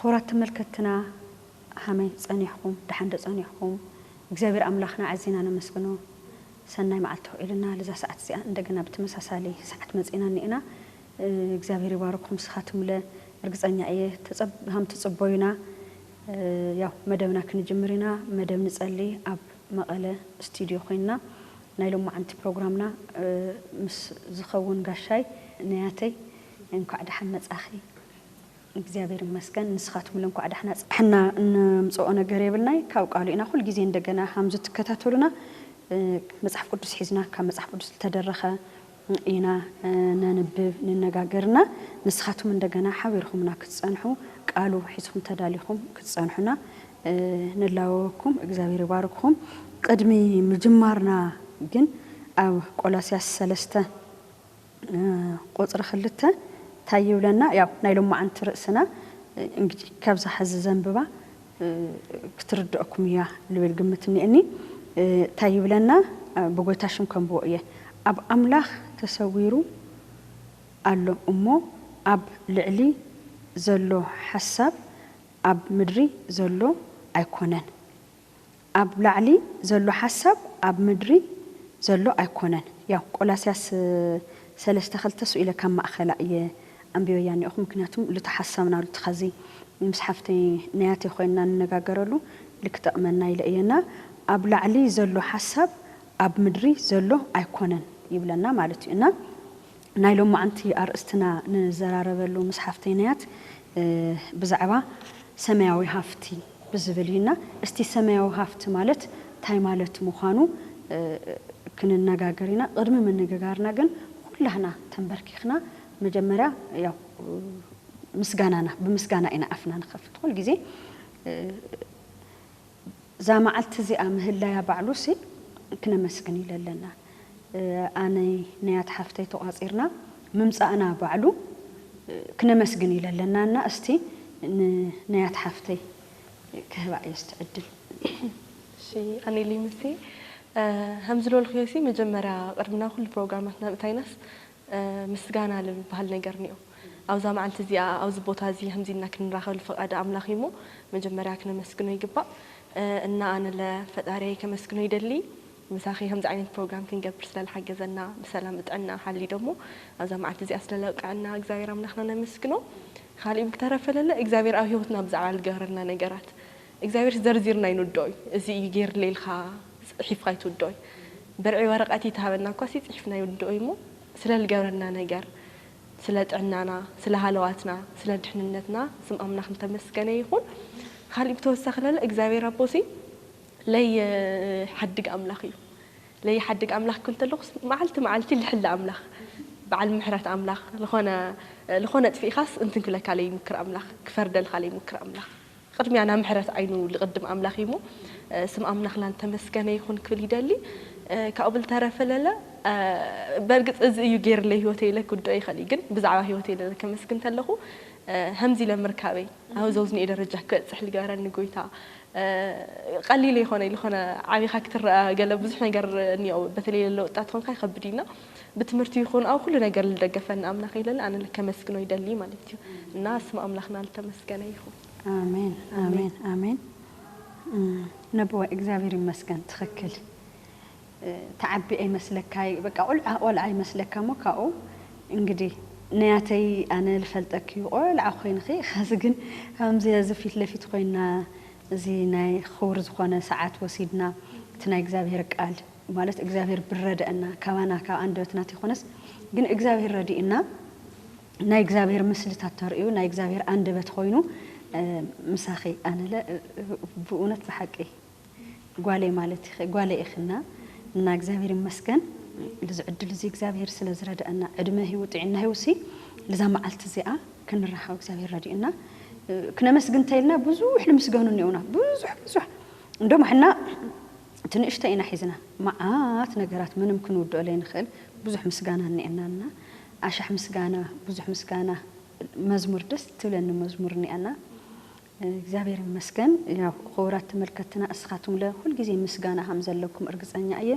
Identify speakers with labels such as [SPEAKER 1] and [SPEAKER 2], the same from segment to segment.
[SPEAKER 1] ክቡራት
[SPEAKER 2] ተመልከትትና ሃመይ ጸኒሕኩም ደሓን ዶ ጸኒሕኩም እግዚኣብሔር ኣምላክና ኣዚና ነመስግኖ ሰናይ መዓልቲ ክኢሉና ልዛ ሰዓት እዚኣ እንደገና ብተመሳሳሊ ሰዓት መጺእና እኒኤና እግዚኣብሔር ይባርኩም ስኻትምለ እርግፀኛ እየ ሃምትፅቦዩና ያው መደብና ክንጅምር ኢና መደብ ንፀሊ ኣብ መቐለ እስትድዮ ኮይንና ናይ ሎማዓንቲ ፕሮግራምና ምስ ዝኸውን ጋሻይ ነያተይ እንኳዕ ዳሓን መፃኺ እግዚኣብሔር ይመስገን ንስኻትምለ እንኳዕ ዳሕና ፅሕና እነምፀኦ ነገር የብልናይ ካብ ቃሉ ኢና ኩል ግዜ እንደገና ሃምዝትከታተሉና መፅሓፍ ቅዱስ ሒዝና ካብ መፅሓፍ ቅዱስ ልተደረኸ ኢና ነንብብ ንነጋገር እና ንስኻትኩም እንደገና ሓቢርኹምና ክትጸንሑ ቃሉ ሒዝኹም ተዳሊኹም ክትጸንሑና ንላወወኩም እግዚኣብሔር ይባርክኹም ቅድሚ ምጅማርና ግን ኣብ ቆላስያስ ሰለስተ ቁጽሪ ክልተ ታይ ይብለና ያው ናይ ሎማዓንቲ ርእስና እንግዲ ካብዛ ሕዚ ዘንብባ ክትርደኣኩም እያ ልብል ግምት እኒኤኒ ታይ ይብለና ብጎይታ ሽም ከንብቦ እየ ኣብ ኣምላኽ ተሰዊሩ ኣሎ እሞ ኣብ ልዕሊ ዘሎ ሓሳብ ኣብ ምድሪ ዘሎ ኣይኮነን ኣብ ላዕሊ ዘሎ ሓሳብ ኣብ ምድሪ ዘሎ ኣይኮነን ያው ቆላስያስ ሰለስተ ክልተ እሱ ኢለ ካብ ማእከላ እየ ኣንቢበያ እኒኦኹ ምክንያቱም ሉቲ ሓሳብና ሉቲ ኸዚ ምስ ሓፍተይ ነያተይ ኾይንና ንነጋገረሉ ልክ ጠቅመና ኢለ እየ እና ኣብ ላዕሊ ዘሎ ሓሳብ ኣብ ምድሪ ዘሎ ኣይኮነን ይብለና ማለት እዩ እና ናይ ሎማዕንቲ ኣርእስትና ንዘራረበሉ ምስ ሓፍተይ ናያት ብዛዕባ ሰማያዊ ሃፍቲ ብዝብል እዩ እና እስቲ ሰማያዊ ሃፍቲ ማለት ታይ ማለት ምዃኑ ክንነጋገር ኢና ቕድሚ ምንግጋርና ግን ኹላህና ተምበርኪኽና መጀመርያ ያው ምስጋናና ብምስጋና ኢና ኣፍና ንኸፍት ኹልጊዜ እዛ መዓልቲ እዚኣ ምህላያ ባዕሉሲ ክነመስግን ኢለ ኣለና ኣነይ ነያት ሓፍተይ ተቋጺርና ምምጻእና ባዕሉ ክነመስግን ኢለ ኣለና እና እስቲ ን ነያት ሓፍተይ ክህባ እየ እስቲ ዕድል።
[SPEAKER 3] እሺ ኣኔ ሊምሲ ሀምዝሎልኽዮሲ መጀመርያ ቅድሚ ናብ ኹሉ ፕሮግራማትና ምእታይናስ ምስጋና ልልብሃል ነገር እኒኦ። ኣብዛ መዓልቲ እዚኣ ኣብዚ ቦታ እዚ ከምዚ ኢልና ክንራኸብ ልፈቓደ ኣምላኽ እዩ እሞ መጀመርያ ክነመስግኖ ይግባእ። እና ኣነለ ፈጣርየይ ከመስግኖ ይደሊ ምሳኺ ከምዚ ዓይነት ፕሮግራም ክንገብር ስለ ልሓገዘና ብሰላም ብጥዕና ሓልዩ ደሞ ኣብዛ መዓልቲ እዚኣ ስለ ለብቀዐና እግዚኣብሔር ኣምላኽና ነመስግኖ። ኻሊእ ብተረፈ ለለ እግዚኣብሔር ኣብ ህይወትና ብዛዕባ ልገብረልና ነገራት እግዚኣብሔርስ ዘርዚርና ኣይንውድኦይ እዚ እዩ ገይርለይ ኢልካ ፅሒፍካ ኣይትውድኦይ ብርዒ ወረቀት ይትሃበና እኳሲ ፅሒፍና ኣይውድኦይ እሞ ስለልገብረልና ነገር ስለ ጥዕናና ስለ ሃለዋትና ስለ ድሕንነትና ስም ኣምላክ ልተመስገነ ይኩን ካሊእ ብተወሳኪ ለለ እግዚኣብሔር ኣቦሲ ለይሓድግ ኣምላክ እዩ ለይሓድግ ኣምላክ ክብል ተለኩስ መዓልቲ መዓልቲ ልሕሊ ኣምላክ በዓል ምሕረት ኣምላክ ልኮነ ልኮነ ኣጥፊእካስ እንትን ክብለካ ለይምክር ኣምላክ ክፈርደልካ ለይምክር ኣምላክ ቕድሚያ ናብ ምሕረት ዓይኑ ልቕድም ኣምላኽ እዩ እሞ ስም ኣምላኽና ልተመስገነ ይኹን ክብል ይደሊ ካብኡ ብልተረፈ ለለ በርግጽ እዚ እዩ ጌርለይ ህይወተይ ኢለ ክውድኦ ይኸእል እዩ ግን ብዛዕባ ህይወተይ ለለ ከመስግን ተለኹ ሀምዚ ኢለ ምርካበይ ኣብ ዘውዝንኤ ደረጃ ክበጽሕ ልገበረኒ ጎይታ ቐሊል ኣይኾነይ ልኾነ ዓቢኻ ክትረኣ ገለ ብዙሕ ነገር እኒኦ በተለይ ለለ ወጣት ኾንካ ይኸብድ እዩ እና ብትምህርቲ ይኩን ኣብ ኩሉ ነገር ልደገፈኒ ኣምላክ ኢለ ኣነ ልከመስግኖ ይደሊ ማለት እዩ እና ስም ኣምላክና ልተመስገነ ይኩን። ኣሜን
[SPEAKER 2] ኣሜን ኣሜን ነቦይ እግዚኣብሔር ይመስገን ትክክል ትዓቢ ኣይመስለካይ በቃ ቁልዓ ቆልዓ ይመስለካ እሞ ካብኡ እንግዲ ነያተይ ኣነ ልፈልጠኪ እዩ ቆልዓ ኮይንኪ ኸዚ ግን ከምዚ እዚ ፊት ለፊት ኮይና እዚ ናይ ኹቡር ዝኮነ ሰዓት ወሲድና እቲ ናይ እግዚኣብሔር ቃል ማለት እግዚኣብሔር ብረደእና ካባና ካብ ኣንደበትና ተይኮነስ ግን እግዚኣብሔር ረዲእና ናይ እግዚኣብሔር ምስልታት ተርእዩ ናይ እግዚኣብሔር ኣንደበት ኾይኑ ምሳኺ ኣነለ ብእውነት ብሓቂ ጓለይ ማለት ኢኺ ጓለይ ኢኺና እና እግዚኣብሔር ይመስገን ልዚ ዕድል እዚ እግዚኣብሔር ስለ ዝረደእና ዕድመ ህይወት ጥዕና ህይወሲ ልዛ መዓልቲ እዚኣ ክንራኸብ እግዚኣብሔር ረዲእና ክነመስግን ተይልና ብዙሕ ንምስገኑ እኒኦና ብዙሕ ብዙሕ እንደሞ ሕና እቲ ንእሽቶ ኢና ሒዝና መዓት ነገራት ምንም ክንውድኦ ለይንኽእል ብዙሕ ምስጋና እኒኣና እና ኣሻሕ ምስጋና ብዙሕ ምስጋና መዝሙር ደስ ትብለኒ መዝሙር እኒኣና እግዚኣብሔር ይመስገን ያው ኽቡራት ተመልከትና እስኻትኩም ለ ኹልጊዜ ምስጋና ሃምዘለኩም እርግፀኛ እየ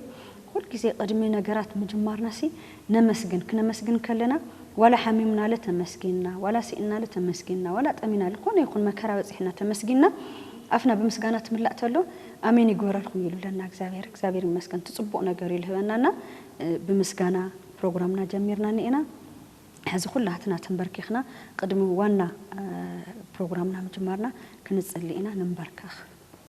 [SPEAKER 2] ኹልጊዜ ቕድሚ ነገራት ምጅማርናሲ ነመስግን ክነመስግን ከለና ዋላ ሓሚምናለ ተመስጊንና ዋላ ሲእንናለ ተመስጊንና ዋላ ጠሚና ልኮነ ይኩን መከራ በጺሕና ተመስጊንና ኣፍና ብምስጋና ትምላእ ተሎ ኣሜን ይግበረልኩም እዩ ልብለና እግዚኣብሔር እግዚኣብሔር ይመስገን እቲ ጽቡቅ ነገር እዩ ልህበና እና ብምስጋና ፕሮግራምና ጀሚርና ኒኤና ሕዚ ኩላትና ተንበርኪክና ቅድሚ ዋና ፕሮግራምና ምጅማርና ክንጽሊ ኢና ንንበርከክ።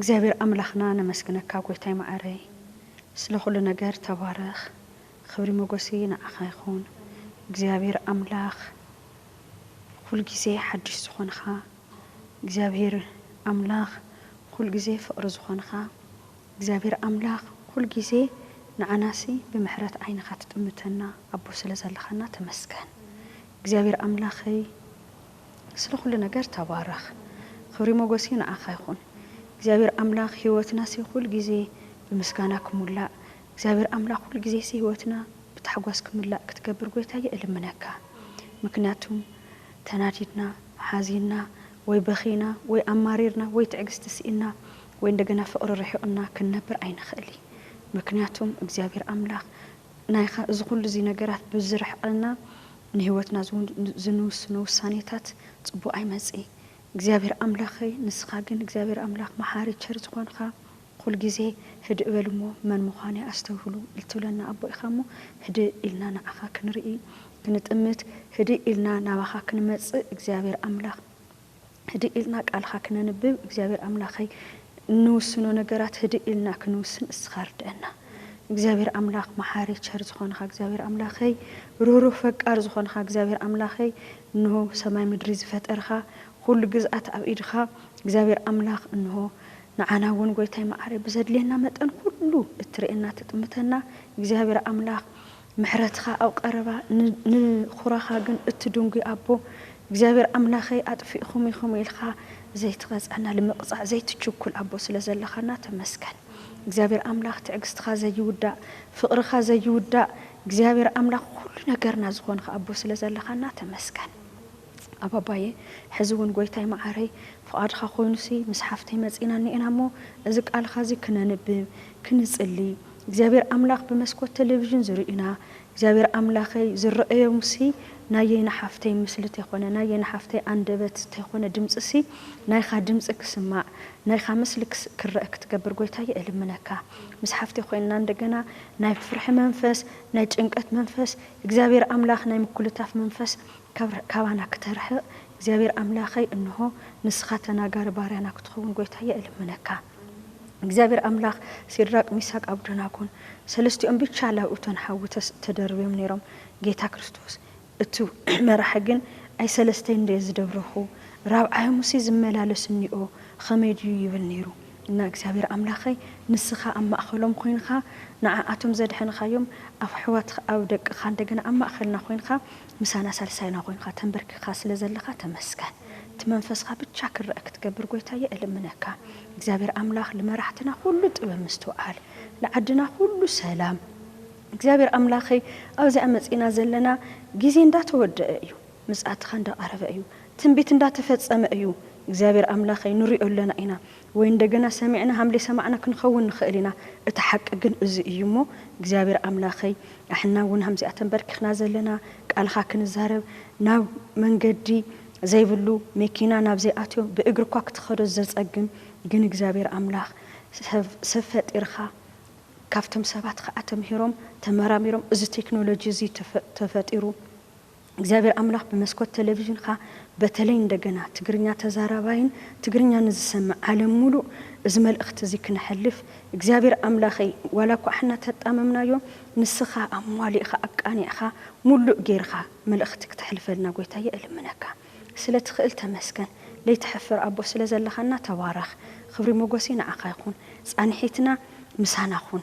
[SPEAKER 2] እግዚኣብሔር ኣምላክና ነመስግነካ ጎይታይ ማዓረይ ስለ ኩሉ ነገር ተባረክ ክብሪ ሞጎስይ ናዓካ ይኩን እግዚኣብሔር ኣምላክ ኩሉ ግዜ ሓድሽ ዝኮንካ እግዚኣብሔር ኣምላክ ኩሉ ግዜ ፍቅሪ ዝኮንካ እግዚኣብሔር ኣምላክ ኩሉ ግዜ ንዓናሲ ብምሕረት ዓይንካ ትጥምተና ኣቦ ስለ ዘለካና ተመስገን እግዚኣብሔር ኣምላከይ ስለ ኩሉ ነገር ተባረክ ክብሪ ሞጎሲ ንዓካ ይኩን እግዚኣብሔር ኣምላክ ሂወትናሲ ኩሉ ግዜ ብምስጋና ክሙላእ እግዚኣብሔር ኣምላክ ኩሉ ግዜሲ ሂወትና ብታሕጓስ ክምላእ ክትገብር ጎይታየ እልምነካ ምክንያቱም ተናዲድና ሓዚና ወይ በኪና ወይ ኣማሪርና ወይ ትዕግስቲ ሲኢና ወይ እንደገና ፍቅሪ ርሒቁና ክንነብር ኣይንክእል እዪ ምክንያቱም እግዚኣብሔር ኣምላክ ናይካ እዚ ኩሉ እዚ ነገራት ብዝርሕቀልና ንህይወትና ዝንውስኖ ውሳኔታት ፅቡቅ ኣይመፅኢ እግዚኣብሔር ኣምላከይ ንስካ ግን እግዚኣብሔር ኣምላክ መሓሪ ቸር ዝኮንካ ኩል ግዜ ህድእ በሉ እሞ መን ምኳነይ ኣስተብህሉ እልትብለና ኣቦ ኢካ እሞ ህድእ ኢልና ንዓካ ክንርኢ ክንጥምት ህድእ ኢልና ናባካ ክንመፅእ እግዚኣብሔር ኣምላክ ህድእ ኢልና ቃልኻ ክነንብብ እግዚኣብሔር ኣምላኸይ እንውስኖ ነገራት ህድእ ኢልና ክንውስን እስኻ ርደኣና እግዚኣብሔር ኣምላኽ መሓሪ ቸር ዝኾንኻ እግዚኣብሔር ኣምላኸይ ርህሩህ ፈቃር ዝኾንኻ እግዚኣብሔር ኣምላኸይ እንሆ ሰማይ ምድሪ ዝፈጠርኻ ኩሉ ግዝኣት ኣብ ኢድኻ እግዚኣብሔር ኣምላኽ እንሆ ንዓና እውን ጎይታይ መዓረይ ብዘድልየና መጠን ኩሉ እትርእየና ትጥምተና እግዚኣብሔር ኣምላኽ ምሕረትኻ ኣብ ቐረባ ንኹራኻ ግን እትድንጒ ኣቦ እግዚኣብሔር ኣምላኸይ ኣጥፊእኹም ኢኹም ኢልኻ ዘይትቐጽዐና ልምቕጻዕ ዘይትችኩል ኣቦ ስለ ዘለኻና ተመስገን እግዚኣብሔር ኣምላኽ ትዕግስትኻ ዘይውዳእ ፍቕርኻ ዘይውዳእ እግዚኣብሔር ኣምላኽ ኹሉ ነገርና ዝኾንኻ ኣቦ ስለ ዘለኻና ተመስገን ኣብ ኣባየ ሕዚ እውን ጎይታይ መዓረይ ፍቓድኻ ኮይኑሲ ምስ ሓፍተይ መጺእና እኒኤና እሞ እዚ ቃልኻ እዚ ክነንብብ ክንጽሊ እግዚኣብሔር ኣምላኽ ብመስኮት ተሌቪዥን ዝርእዩና እግዚኣብሔር ኣምላኸይ ዝረእዮምሲ ናየይ ንሓፍተይ ምስሊ ተይኮነ ናየይ ንሓፍተይ ኣንደበት ተይኮነ ድምጽሲ ናይኻ ድምጺ ክስማዕ ናይኻ ምስሊ ክረእ ክትገብር ጎይታየ እልምነካ ምስ ሓፍተይ ኮይንና እንደገና ናይ ፍርሒ መንፈስ ናይ ጭንቀት መንፈስ እግዚኣብሔር ኣምላኽ ናይ ምኩልታፍ መንፈስ ካባና ክተርሕቅ እግዚኣብሔር ኣምላከይ እንሆ ንስካ ተናጋሪ ባርያና ክትከውን ጎይታየ እልምነካ እግዚኣብሔር ኣምላክ ሲድራቅ ሚሳቅ ኣብዶናጎን ሰለስቲኦም ብቻ ላብ እቶን ሓዊ ተደርብዮም ነይሮም ጌታ ክርስቶስ እቱ መራሒ ግን ኣይ ሰለስተይ እንድየ ዝደብረኩ ራብዓዮምሲ ዝመላለስ እኒኦ ከመይ ድዩ ይብል ነይሩ እና እግዚኣብሔር ኣምላከይ ንስካ ኣብ ማእከሎም ኮይንካ ንዓኣቶም ዘድሐንካዮም ኣፍሕዋትካ ኣብ ደቅካ እንደገና ኣብ ማእከልና ኮይንካ ምሳና ሳልሳይና ኮይንካ ተንበርኪካ ስለ ዘለካ ተመስገን እቲ መንፈስካ ብቻ ክረእ ክትገብር ጎይታየ እልምነካ እግዚኣብሔር ኣምላክ ልመራሕትና ኩሉ ጥበብ ምስትውዓል ልዓድና ኩሉ ሰላም እግዚኣብሔር ኣምላከይ ኣብዚኣ መፂእና ዘለና ግዜ እንዳተወደኣ እዩ ምፅኣትካ እንዳቀረበ እዩ ትንቢት እንዳተፈፀመ እዩ እግዚኣብሔር ኣምላከይ ንሪኦ ኣለና ኢና ወይ እንደገና ሰሚዕና ሃም ደይሰማዕና ክንኸውን ንኽእል ኢና እቲ ሓቂ ግን እዚ እዩ እሞ እግዚኣብሔር ኣምላኸይ ኣሕና እውን ሃምዚኣ ተንበርኪኽና ዘለና ቃልኻ ክንዛረብ ናብ መንገዲ ዘይብሉ ሜኪና ናብ ዘይኣትዮ ብእግሪ እኳ ክትኸዶ ዘጸግም ግን እግዚኣብሔር ኣምላኽ ሰብ ፈጢርኻ ካብቶም ሰባት ኸኣ ተምሂሮም ተመራሚሮም እዚ ቴክኖሎጂ እዚ ተፈጢሩ እግዚኣብሔር ኣምላኽ ብመስኮት ተለቪዥንካ በተለይ እንደገና ትግርኛ ተዛራባይን ትግርኛ ንዝሰምዕ ዓለም ሙሉእ እዚ መልእኽቲ እዚ ክነሕልፍ እግዚኣብሔር ኣምላኸይ ዋላ እኳ ኣሕና ተጣመምናዮ ንስኻ ኣሟሊእኻ ኣቃኒዕኻ ሙሉእ ገይርኻ መልእኽቲ ክተሕልፈልና ጎይታየ እልምነካ ስለ ትኽእል ተመስገን ለይትሐፍር ኣቦ ስለ ዘለኻና ተባረኽ ኽብሪ ሞጎሴ ንዓኻ ይኹን ፃንሒትና ምሳና ኹን።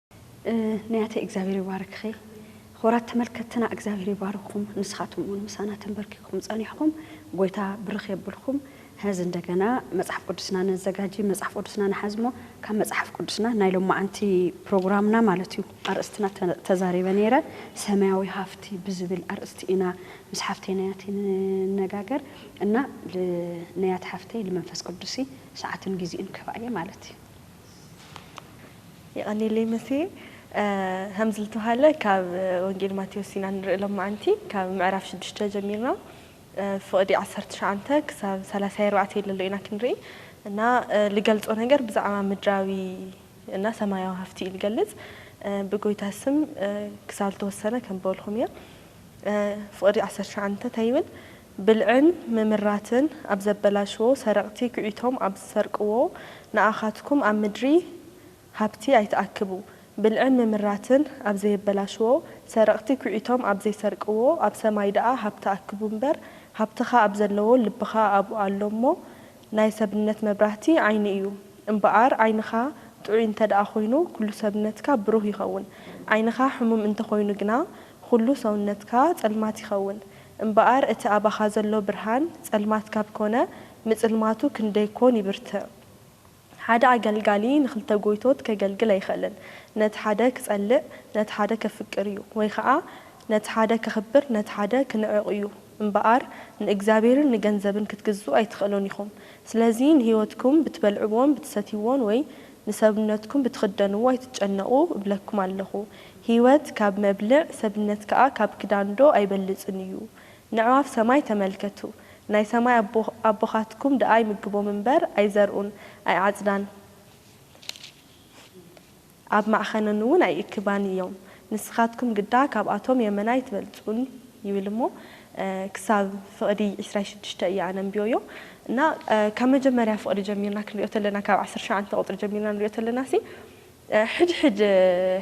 [SPEAKER 2] ነያተይ እግዚኣብሔር ይባርክኺ ኹብራት ተመልከትና እግዚኣብሔር ይባርክኹም ንስኻትኩም እውን ምሳና ተንበርኪኩም ጸኒሕኹም ጎይታ ብርኽ የብልኩም ሀዚ እንደገና መጽሓፍ ቅዱስና ነዘጋጂ መጽሓፍ ቅዱስና ንሓዝሞ ካብ መጽሓፍ ቅዱስና ናይ ሎማዓንቲ ፕሮግራምና ማለት እዩ ኣርእስትና ተዛሪበ ነይረ ሰማያዊ ሃፍቲ ብዝብል ኣርእስቲ ኢና ምስ ሓፍተይ ነያቲ ንነጋገር እና ነያት ሓፍተይ ልመንፈስ ቅዱሲ ሰዓትን ጊዜኡን ክህባ እየ ማለት እዩ
[SPEAKER 3] የቐኔለይ መሴ ሀምዝልተውሀለ ካብ ወንጌል ማቴዎስ ኢና ንርኢ ሎማዓንቲ ካብ ምዕራፍ ሽዱሽተ ጀሚርና ፍቕዲ ዓሰርተ ትሽዓንተ ክሳብ ሰላሳይ ኣርባዕተይ ለሎ ኢና ክንርኢ እና ልገልጾ ነገር ብዛዕባ ምድራዊ እና ሰማያዊ ሃፍቲ እዩ ልገልጽ ብጎይታ ስም ክሳብ ልተወሰነ ከንበልኹም እየ ፍቕዲ ዓሰርተ ትሽዓንተ እንታይ ይብል ብልዕን ምምራትን ኣብ ዘበላሽዎ ሰረቅቲ ኩዒቶም ኣብ ዝሰርቅዎ ንኣኻትኩም ኣብ ምድሪ ሃብቲ ኣይትኣክቡ ብልዕን ምምራትን ኣብ ዘየበላሽዎ ሰረቅቲ ኩዒቶም ኣብ ዘይሰርቅዎ ኣብ ሰማይ ደኣ ሃብቲ ኣክቡ እምበር ሃብትኻ ኣብ ዘለዎ ልብኻ ኣብኡ ኣሎ እሞ ናይ ሰብነት መብራህቲ ዓይኒ እዩ እምበኣር ዓይንኻ ጥዑይ እንተደኣ ኮይኑ ኩሉ ሰብነትካ ብሩህ ይኸውን ዓይንኻ ሕሙም እንተኾይኑ ግና ኹሉ ሰውነትካ ጸልማት ይኸውን እምበኣር እቲ ኣባኻ ዘሎ ብርሃን ጸልማት ካብ ኮነ፣ ምጽልማቱ ክንደይ ኮን ይብርትዕ። ሓደ ኣገልጋሊ ንኽልተ ጎይቶት ከገልግል ኣይኽእልን። ነቲ ሓደ ክጸልእ ነቲ ሓደ ከፍቅር እዩ፣ ወይ ኸኣ ነቲ ሓደ ከኽብር ነቲ ሓደ ክንዕቕ እዩ። እምበኣር ንእግዚኣብሔርን ንገንዘብን ክትግዝኡ ኣይትኽእሉን ኢኹም። ስለዚ ንህይወትኩም ብትበልዕዎን ብትሰትይዎን ወይ ንሰብነትኩም ብትኽደንዎ ኣይትጨነቑ እብለኩም ኣለኹ። ህይወት ካብ መብልዕ፣ ሰብነት ከኣ ካብ ክዳንዶ ኣይበልጽን እዩ? ነዕዋፍ ሰማይ ተመልከቱ፣ ናይ ሰማይ ኣቦ ኣቦኻትኩም ደኣ ይምግቦም እምበር፣ ኣይዘርኡን፣ ኣይዓጽዳን፣ ኣብ ማዕኸነንውን ኣይእክባን እዮም። ንስኻትኩም ግዳ ካብኣቶም የመና ኣይትበልጹን ይብል እሞ ክሳብ ፍቕዲ ዕስራይ ሽዱሽተ እየ ኣነ ኣንብዮዮ እና ካብ መጀመርያ ፍቕዲ ጀሚርና ክንሪኦ ተለና ካብ ዓሰርተ ሸውዓተ ቁጽሪ ጀሚርና ንሪኦ ተለናሲ ሕድሕድ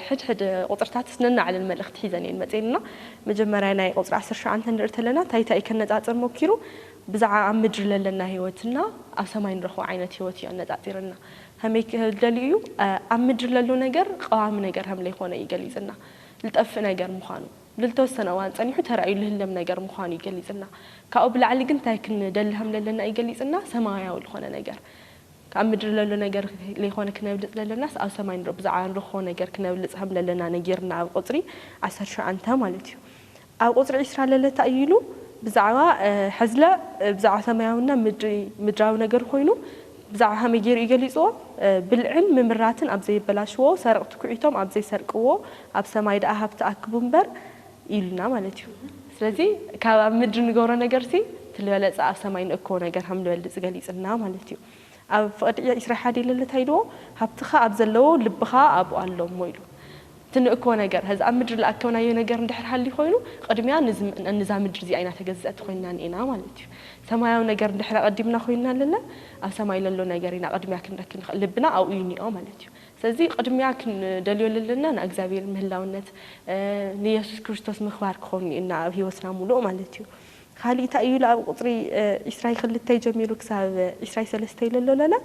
[SPEAKER 3] ሕድሕድ ቁጽርታትስ ነናዕለን መልእኽቲ ሒዘን እየን መጽየን እና መጀመርያ ናይ ቁጽሪ ዓሰርተ ሸውዓተ ንርኢ ተለና ታይታይ ከነጻጽር ሞኪሩ ብዛዕባ ኣብ ምድሪ ለለና ህይወት እና ኣብ ሰማይ ንረኽቦ ዓይነት ህይወት እዩ ኣነጻጺርልና ሀመይ ክህል ደልዩ እዩ? ኣብ ምድሪ ለሎ ነገር ቀዋሚ ነገር ሀም ለይኾነ እዩ ገሊጽልና። ልጠፍእ ነገር ምዃኑ። ልልተወሰነ እዋን ጸኒሑ ተራእዩ ልህለም ነገር ምዃኑ እዩ ገሊጽልና። ካብኡ ብላዕሊ ግን እንታይ ክንደሊ ሀም ለለና እዩ ገሊጽልና፣ ሰማያዊ ልኾነ ነገር። ኣብ ምድሪ ለሎ ነገር ለይኾነ ክነብልጽ ለለናስ ኣብ ሰማይ ብዛዕባ ንረኽቦ ነገር ክነብልጽ ሀም ለለና ነጊርና ኣብ ቁጽሪ ዓሰርተ ሸውዓንተ ማለት እዩ። ኣብ ቁጽሪ ዕስራ ለለታ እዩ ኢሉ ብዛዕባ ሕዝለ ብዛዕባ ሰማያውና ምድሪ ምድራዊ ነገር ኮይኑ ብዛዕባ ከመይ ጌሩ እዩ ገሊጽዎ ብልዕን ምምራትን ኣብ ዘየበላሽዎ ሰረቅቲ ኩዒቶም ኣብ ዘይሰርቅዎ ኣብ ሰማይ ደኣ ሃብቲ ኣክቡ እምበር ኢሉና ማለት እዩ ስለዚ ካብ ኣብ ምድሪ ንገብሮ ነገርሲ ትልበለጸ ኣብ ሰማይ ንእክቦ ነገር ከምልበልጽ ገሊጽልና ማለት እዩ ኣብ ፍቅድ ኢያ ኢስራ ሓዲ ልል ታይ ዶ ሃብትኻ ኣብ ዘለዎ ልብኻ ኣብኡ ኣሎ እሞ ኢሉ እቲ ንእኮ ነገር ሀዚ ኣብ ምድሪ ልኣከብናዮ ነገር እንድሕር ሃልዩ ኮይኑ ቅድሚያ ንዛ ምድሪ እዚኣ ኢና ተገዝእቲ ኮይንና ኒኤና ማለት እዩ ሰማያዊ ነገር እንድሕር ኣቀዲምና ኮይንና ልለ ኣብ ሰማይ ለሎ ነገር ኢና ቅድሚያ ክንረክ ንክእል ልብና ኣብኡ እዩ ኒኦ ማለት እዩ ስለዚ ቅድሚያ ክንደልዮ ልለና ንኣግዚኣብሔር ምህላውነት ንየሱስ ክርስቶስ ምክባር ክኾን ኒኤና ኣብ ህይወትና ሙሉእ ማለት እዩ ኻሊእ ታይ እዩ ኢሉ ኣብ ቁፅሪ ዕስራይ ኽልተይ ጀሚሩ ክሳብ ዕስራይ ሰለስተይ ለሎ ለለ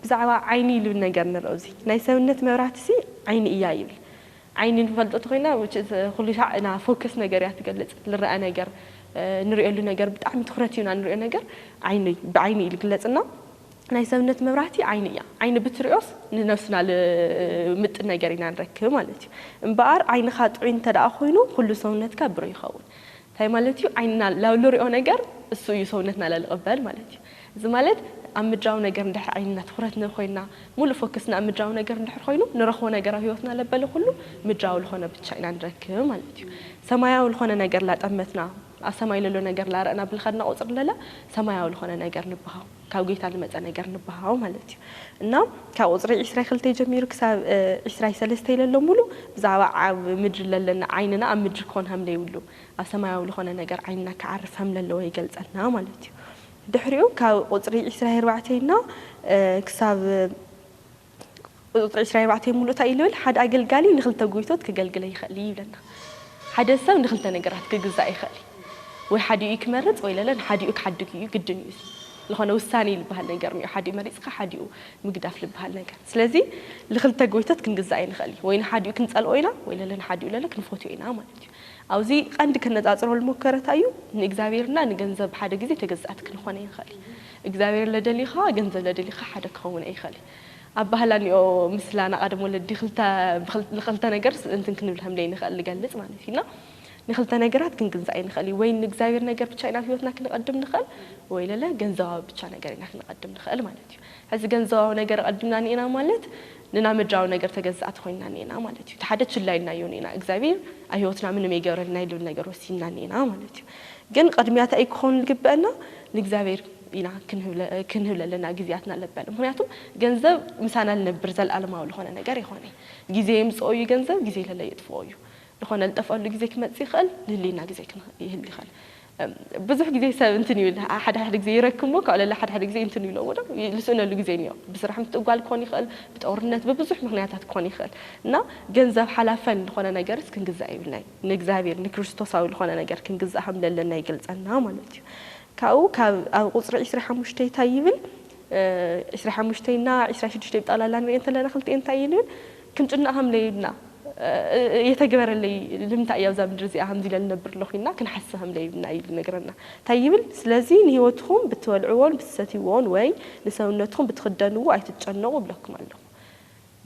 [SPEAKER 3] ብዛዕባ ዓይኒ ልብል ነገር ንርኦ እዚ ናይ ሰብነት መብራህቲ ሲ ዓይኒ እያ ይብል ዓይኒ ንፈልጦ ተኾይና which is ኹሉሻዕ እና focus ነገር እያ ትገልፅ ልረኣ ነገር ንሪኦሉ ነገር ብጣዕሚ ትኹረት ሂብና ንሪኦ ነገር ዓይኒ ብዓይኒ እዩ ልግለፅ እና ናይ ሰብነት መብራህቲ ዓይኒ እያ ዓይኒ ብትሪኦስ ንነብስና ልምጥን ነገር ኢና ንረክብ ማለት እዩ እምበኣር ዓይንኻ ጥዑይ እንተደኣ ኾይኑ ኹሉ ሰውነትካ ብሩህ ይኸውን ታይ ማለት እዩ ዓይንና ላብልሪኦ ነገር እሱ እዩ ሰውነትና ላልቕበል ማለት እዩ እዚ ማለት ኣብ ምድራዊ ነገር እንድሕር ዓይንና ትኹረት ንኮይና ሙሉእ ፎክስና ኣብ ምድራዊ ነገር እንድሕር ኾይኑ ንረኽቦ ነገር ኣብ ህይወትና ለበለ ኩሉ ምድራዊ ልኾነ ብቻ ኢና ንረክብ ማለት እዩ ሰማያዊ ልኾነ ነገር ላጠመትና ኣብ ሰማይ ለሎ ነገር ላረእና ብልኸድና ቁፅሪ ለለ ሰማያዊ ልኾነ ነገር ንብሃው ካብ ጌታ ልመጸ ነገር ንብሃው ማለት እዩ እና ካብ ቁጽሪ ዒስራይ ክልተይ ጀሚሩ ክሳብ ዒስራይ ሰለስተይ ለሎ ሙሉእ ብዛዕባ ኣብ ምድሪ ለለና ዓይንና ኣብ ምድሪ ክኾን ሃም ለይብሉ ኣብ ሰማያዊ ልኾነ ነገር ዓይንና ክዓርፍ ሃም ለለወ ይገልጸልና ማለት እዩ ድሕሪኡ ካብ ቁጽሪ ዒስራይ ኣርባዕተይ እና ክሳብ ቁጽጽር ዕስራ ኣርባዕተ ይሙሉእ ታይ እዩ ልብል ሓደ ኣገልጋሊ ንክልተ ጎይቶት ክገልግለ ይክእል እዩ ይብለና ሓደ ሰብ ንክልተ ነገራት ክግዛእ ይክእል እዩ ወይ ሓዲኡ እዩ ክመርጽ ወይ ለለ ንሓዲኡ ክሓድግ እዩ ግድን እዩ እዚ ልኮነ ውሳኔ ልባሃል ነገር እኒኦ ሓዲኡ መሪጽካ ሓዲኡ ምግዳፍ ልባሃል ነገር ስለዚ ልክልተ ጎይቶት ክንግዛእ ኣይንክእል እዩ ወይ ንሓዲኡ ክንጸልኦ ኢና ወይ ለለ ንሓዲኡ ለለ ክንፎትዮ ኢና ማለት እዩ ኣብዚ ቀንዲ ከነጻጽሮ ልሞከረ ታይ እዩ ንእግዛብሄር እና ንገንዘብ ብሓደ ግዜ ተገዛእቲ ክንኮነ ይንክእል እግዚኣብሔር ለደሊኻ ገንዘብ ለደሊኻ ሓደ ክኸውን ኣይኸል ኣባህላ እኒኦ ምስላ ናቓደም ወለዲ ክልተ ንኸልተ ነገር እንትን ክንብል ከምለይ ንኸእል ንገልጽ ማለት እዩ እና ንክልተ ነገራት ክንግንዘ ኣይንኸእል እዩ ወይ ንእግዚኣብሔር ነገር ብቻ ኢና ህይወትና ክንቐድም ንኸእል ወይ ለለ ገንዘባዊ ብቻ ነገር ኢና ክንቐድም ንኸእል ማለት እዩ ሕዚ ገንዘባዊ ነገር ቐድምና ኒኤና ማለት ንና ምድራዊ ነገር ተገዛእቲ ኮይንና ኒኤና ማለት እዩ ተሓደ ችላ ኢልናዮ ኒኤና እግዚኣብሔር ኣብ ህይወትና ምንም ኣይገብረልና ኢሉ ነገር ወሲንና ኒኤና ማለት እዩ ግን ቕድሚያ ታይ'ዩ ክኾን ልግበእና? ንእግዚኣብሔር ኢና ክንህብ ለለና ጊዜያትና ልበል። ምኽንያቱ ገንዘብ ምሳና ልነብር ዘለዓለማዊ ልኾነ ነገር የኾነይ። ጊዜ የምጽኦ እዩ ገንዘብ፣ ጊዜ ለለ የጥፍኦ እዩ። ልኾነ ልጠፍኣሉ ጊዜ ክመጽእ ይኸእል፣ ልህልየና ጊዜ ይህሉ ይኸእል። ብዙሕ ጊዜ ሰብ እንትን ይብል፣ ሓደ ሓደ ጊዜ ይረክብ እሞ ካብኡ ለለ ሓደ ሓደ ጊዜ እንትን ይብሎ እሞ ደማ ልስእነሉ ጊዜ እኒኦ። ብስራሕ ምትእጓል ክኾን ይኸእል፣ ብጦርነት፣ ብብዙሕ ምኽንያታት ክኾን ይኸእል። እና ገንዘብ ሓላፈን ልኾነ ነገርስ ክንግዛእ የብልናይ። ንእግዚኣብሔር ንክርስቶሳዊ ልኾነ ነገር ክንግዛእ ከም ለለና ይገልጸልና ማለት እዩ። ካብኡ ካብ ኣብ ቁጽሪ ዕስራይ ሓሙሽተይ እንታይ ይብል ዕስራይ ሓሙሽተይ እና ዕስራይ ሽዱሽተይ ብጠቕላላ ንርእየን እንተለና ክልቲኤን እንታይ እየን ይብል ክንጭነቕ ከም ለዩብና የተግበረለይ ልምንታይ እየ ኣብዛ ምድሪ እዚኣ ከምዚ ኢለ ልነብር ኣለኹ ኢልና ክንሓስብ ከም ለዩብና ኢሉ ይነግረና። እንታይ ይብል ስለዚ ንሕይወትኹም ብትበልዕዎን ብትሰትይዎን ወይ ንሰውነትኹም ብትኽደንዎ ኣይትጨነቑ እብለኩም ኣለኹ።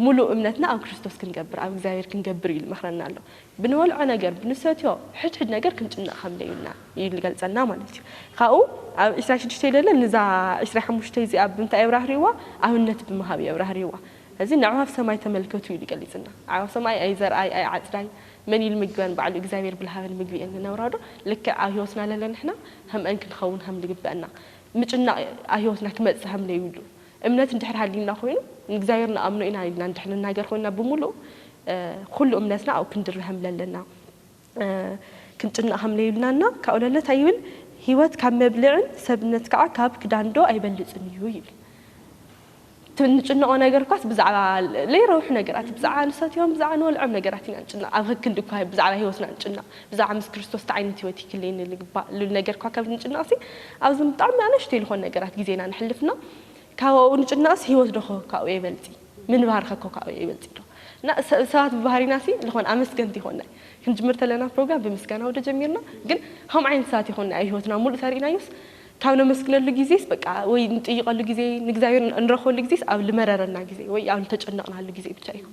[SPEAKER 3] ምሉእ እምነትና ኣብ ክርስቶስ ክንገብር፣ ኣብ እግዚኣብሔር ክንገብር እዩ ልመኽረና ኣሎ። ብንበልዖ ነገር፣ ብንሰትዮ ሕድ ሕድ ነገር ክንጭነቕ ከም ለዩና እዩ ልገልጸልና ማለት እዩ። ካብኡ ኣብ ዕስራይ ሽዱሽተይ ለለ ንዛ ዕስራይ ሓሙሽተይ እዚኣ ብምንታይ የብራህርህዋ? ኣብነት ብምሃብ የብራህርህዋ። እዚ ንኣዕዋፍ ሰማይ ተመልከቱ እዩ ልገሊጽልና። ኣዕዋፍ ሰማይ ኣይዘርኣይ ኣይዓጽዳይ መን እዩ ልምግበን? ባዕሉ እግዚኣብሔር ብልሃበን ምግቢ እየን ልነብራዶ? ልክዕ ኣብ ሕይወትና ለለ ንሕና ከምኣን ክንኸውን ከም ልግበእና ምጭናቕ ኣብ ሕይወትና ክመጽእ ከም ለዩሉ እምነት እንድሕር ሃልዩና ኮይኑ ንእግዚኣብሔር ንኣምኖ ኢና ኢልና እንድሕር ንናገር ኮይና ብምሉእ ኩሉ እምነትና ኣብኡ ክንድርህ ከምለለና ክንጭነቅ ከምለዩልና እና ካብኡ ለለ ታይ ይብል ህይወት ካብ መብልዕን ሰብነት ከዓ ካብ ክዳን ዶ ኣይበልፅን እዩ ይብል እቲ እንጭነቆ ነገር እኳስ ብዛዕባ ለይረብሑ ነገራት ብዛዕባ ንሰትዮም ብዛዕባ ንበልዖም ነገራት ኢና ንጭነቅ ኣብ ከክንዲ እኳ ብዛዕባ ህይወትና ንጭነቅ ብዛዕባ ምስ ክርስቶስ ታይ ዓይነት ህይወት ይክልየኒ ልግባእ ነገርኳ ካብ ንጭነቕሲ ኣብዞም ብጣዕሚ ኣናሽተይ ልኾኑ ነገራት ግዜና ነሕልፍ እና ካብ ኣብኡ ንጭነቕሲ ህይወት ዶኾ ካብኡ የበልጺ ምንባር ኸኮ ካብኡ የበልጺ ዶ እና ሰባት ብባህሪና ሲ ልኾን ኣመስገንቲ ይኾንናይ ክንጅምር ተለና ፕሮግራም ብምስጋና ወደ ጀሚርና ግን ኸምኡ ዓይነት ሰባት ይኾንናይ ኣብ ህይወትና ሙሉእ ተሪኢናዮስ ካብ ነመስግነሉ ግዜስ በቃ ወይ ንጥይቐሉ ግዜ ንእግዚኣብሔር ንረኽበሉ ግዜስ ኣብ ልመረረና ግዜ ወይ ኣብ ልተጨነቕናሉ ግዜ ብቻ እዩ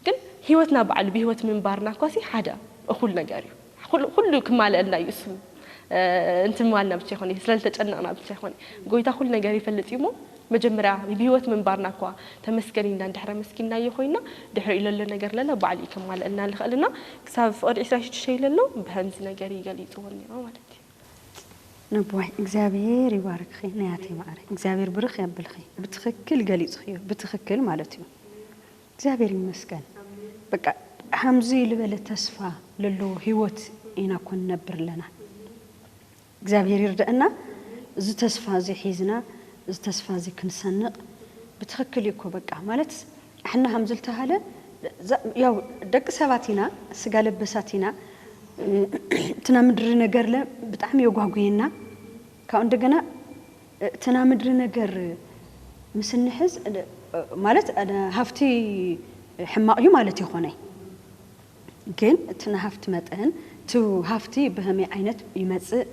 [SPEAKER 3] ግን ህይወትና ባዕሉ ብህይወት ምንባርና እኳሲ ሓደ እኹል ነገር እዩ። ኩሉ ኩሉ ክማለኣልና እዩ እሱ እንትማልና ብቻ ይኾን እዩ ስለልተጨነቕና ብቻ ይኾን እዩ ጎይታ ኩሉ ነገር ይፈልጥ እዩ እሞ መጀመርያ ብህይወት ምንባርና እኳ ተመስገን ኢልና እንድሕር ኣመስጊንናዮ ኮይና ድሕሪኡ ለሎ ነገር ለለ ባዕሉ እዩ ከማለኣልና ልኽእል እና ክሳብ ፍቕድ ዕስራን ሽዱሽተን ለሎ ብኸምዚ ነገር እዩ ገሊጽዎ ነይሩ ማለት እዩ።
[SPEAKER 2] ነቦይ እግዚኣብሄር ይባርክኺ ናያተይ ማዓረይ እግዚኣብሄር ብርኽ የብልኺ ብትኽክል ገሊፅኽዮ ብትኽክል ማለት እዩ። እግዚኣብሔር ይመስገን በቃ ሃምዚ ልበለ ተስፋ ለለዎ ህይወት ኢና እኮ ንነብር ለና እግዚኣብሔር ይርደእና እዚ ተስፋ እዚ ሒዝና እዚ ተስፋ እዚ ክንሰንቅ ብትክክል እዩ እኮ በቃ ማለት ኣሕና ሃምዚ ልተሃለ ያው ደቂ ሰባት ኢና ስጋ ለበሳት ኢና እቲ ናምድሪ ነገርለ ብጣዕሚ የጓጉየና ካብኡ እንደገና እቲ ናይ ምድሪ ነገር ምስ እንሕዝ ማለት ሃፍቲ ሕማቕ እዩ ማለት ኣይኮነይ ግን እቲ ናይ ሃፍቲ መጠን እቲ ሃፍቲ ብኸመይ ዓይነት ይመጽእ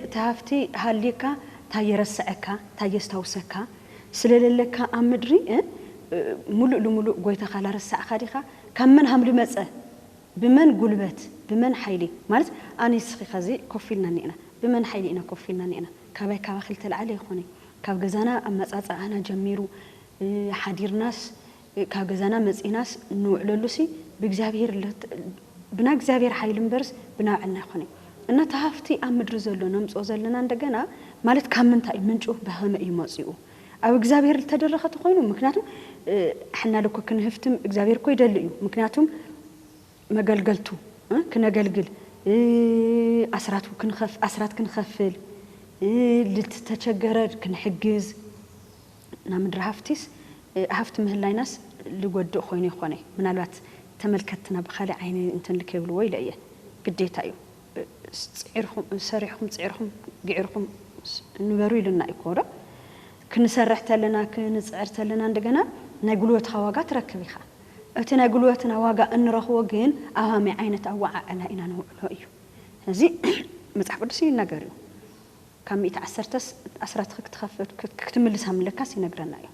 [SPEAKER 2] እቲ ሃፍቲ ሃልዩካ ታይ የረስዐካ ታይ የስታውሰካ ስለለለካ ኣብ ምድሪ ሙሉእ ልሙሉእ ጎይታኻ ላረሳዕኻ ዲኻ ካብ መን ሃም ልመጸ ብመን ጉልበት ብመን ሓይሊ ማለት ኣነይ ንስኺ ከዚ ኮፍ ኢልና እኒኤና ብመን ሓይሊ ኢና ኮፍ ኢልና እኒኤና ካባይ ካባኺ ልተልዓለ ኣይኾነይ ካብ ገዛና ኣመፃፅኣና ጀሚሩ ሓዲርናስ ካብ ገዛና መፂእናስ ንውዕለሉሲ ብእግዚኣብሔር ብናይ እግዚኣብሔር ሓይሊ እምበርስ ብናባዕልና ኣይኾነይ እና እቲ ሃፍቲ ኣብ ምድሪ ዘሎ ነምፅኦ ዘለና እንደገና ማለት ካብ ምንታይ እዩ ምንጩ ብኸመይ እዩ መፂኡ ኣብ እግዚኣብሔር ልተደረኸ ተኾይኑ ምክንያቱም ኣሕና ልኮ ክንህፍትም እግዚኣብሔር እኮ ይደሊ እዩ ምክንያቱም መገልገልቱ ክነገልግል ኣስራቱ ክንኸፍ ኣስራት ክንኸፍል ልትተቸገረር ክንሕግዝ ናብ ምድሪ ሃፍቲስ ሃፍቲ ምህላይናስ ልጎድእ ኾይኑ የኾነይ ምናልባት ተመልከትትና ብኻሊእ ዓይኒ እንትን ልከይብልዎ ኢለ እየ ግዴታ እዩ። ሰሪሕኹም ፅዒርኹም ግዒርኹም ንበሩ ኢሉና እዩ ኮዶ ክንሰርሕ ተለና ክንፅዕር ተለና እንደገና ናይ ጉልበትኻ ዋጋ ትረክብ ኢኻ እቲ ናይ ጉልበትና ዋጋ እንረኽቦ ግን ኣብ ሃመይ ዓይነት ኣወዓዕላ ኢና ነውዕሎ እዩ እዚ መፅሓፍ ቅዱስ ይናገር እዩ ካብ ሚእቲ ዓሰርተስ ኣስራትኺ ክትኸፍል ክትምልስ ሃምለካስ ይነግረና እዩ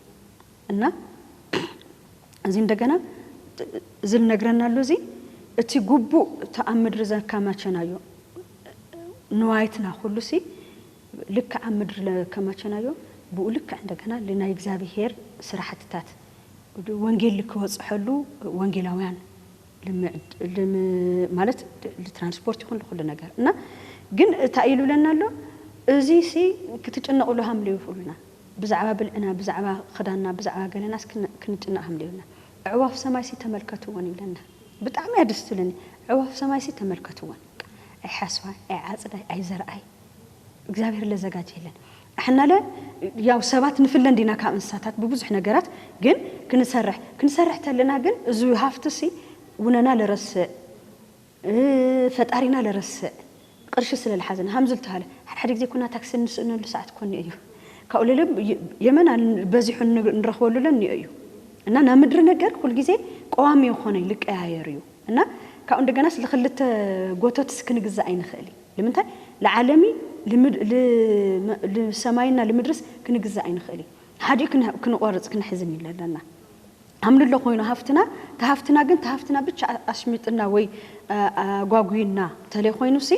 [SPEAKER 2] እና እዚ እንደገና እዚ ልነግረና ኣሎ እዚ እቲ ጉቡእ እቲ ኣብ ምድሪ ዘካማቸናዮ ንዋይትና ኩሉ ሲ ልክዕ ኣብ ምድሪ ለከማቸናዮ ብኡ ልክዕ እንደገና ልናይ እግዚኣብሄር ስራሕትታት ወንጌል ልክበፅሐሉ ወንጌላውያን ማለት ልትራንስፖርት ይኹን ልኹሉ ነገር እና ግን እታይ ኢሉ ለና ኣሎ እዚ ሲ ክትጭነቕሉ ሃምልዩ ይኹሉና ብዛዕባ ብልዕና ብዛዕባ ክዳንና ብዛዕባ ገለናስ ክንጭነቅ ሃምልዩና ኣዕዋፍ ሰማይሲ ተመልከትወን ይብለና ብጣዕሚ እያ ደስ ትብለኒ ኣዕዋፍ ሰማይሲ ተመልከትወን ኣይ ሓስዋይ ኣይ ዓጽዳይ ኣይ ዘርኣይ እግዚኣብሔር ለዘጋጀየለን ኣሕናለ ያው ሰባት ንፍለ እንዲና ካብ እንስሳታት ብብዙሕ ነገራት ግን ክንሰርሕ ክንሰርሕ ተለና ግን እዚ ሃፍትሲ ውነና ልረስዕ ፈጣሪና ልረስዕ ቅርሺ ስለ ልሓዘና ሃም ዝልተሃለ ሓድ ሓድ ግዜ ኩና ታክሲ እንስእነሉ ሰዓት ኮን እዩ ካብኡ ልል የመን ኣል በዚሑ ንረክበሉ ለን ኒኦ እዩ እና ና ምድሪ ነገር ኩል ግዜ ቆዋሚ ይኮነይ ልቀያየር እዩ እና ካብኡ እንደገናስ ልክልተ ጎቶትስ ክንግዛእ ኣይንክእል ልምንታይ ልዓለሚ ልሰማይና ልምድርስ ክንግዛእ ኣይንክእል ሓዲኡ ክንቆርፅ ክንሕዝን እዩ ለለና ኣምልሎ ኮይኑ ሃፍትና ተሃፍትና ግን ተሃፍትና ብቻ ኣሽሚጥና ወይ ኣጓጉዩና ተለይ ኮይኑሲ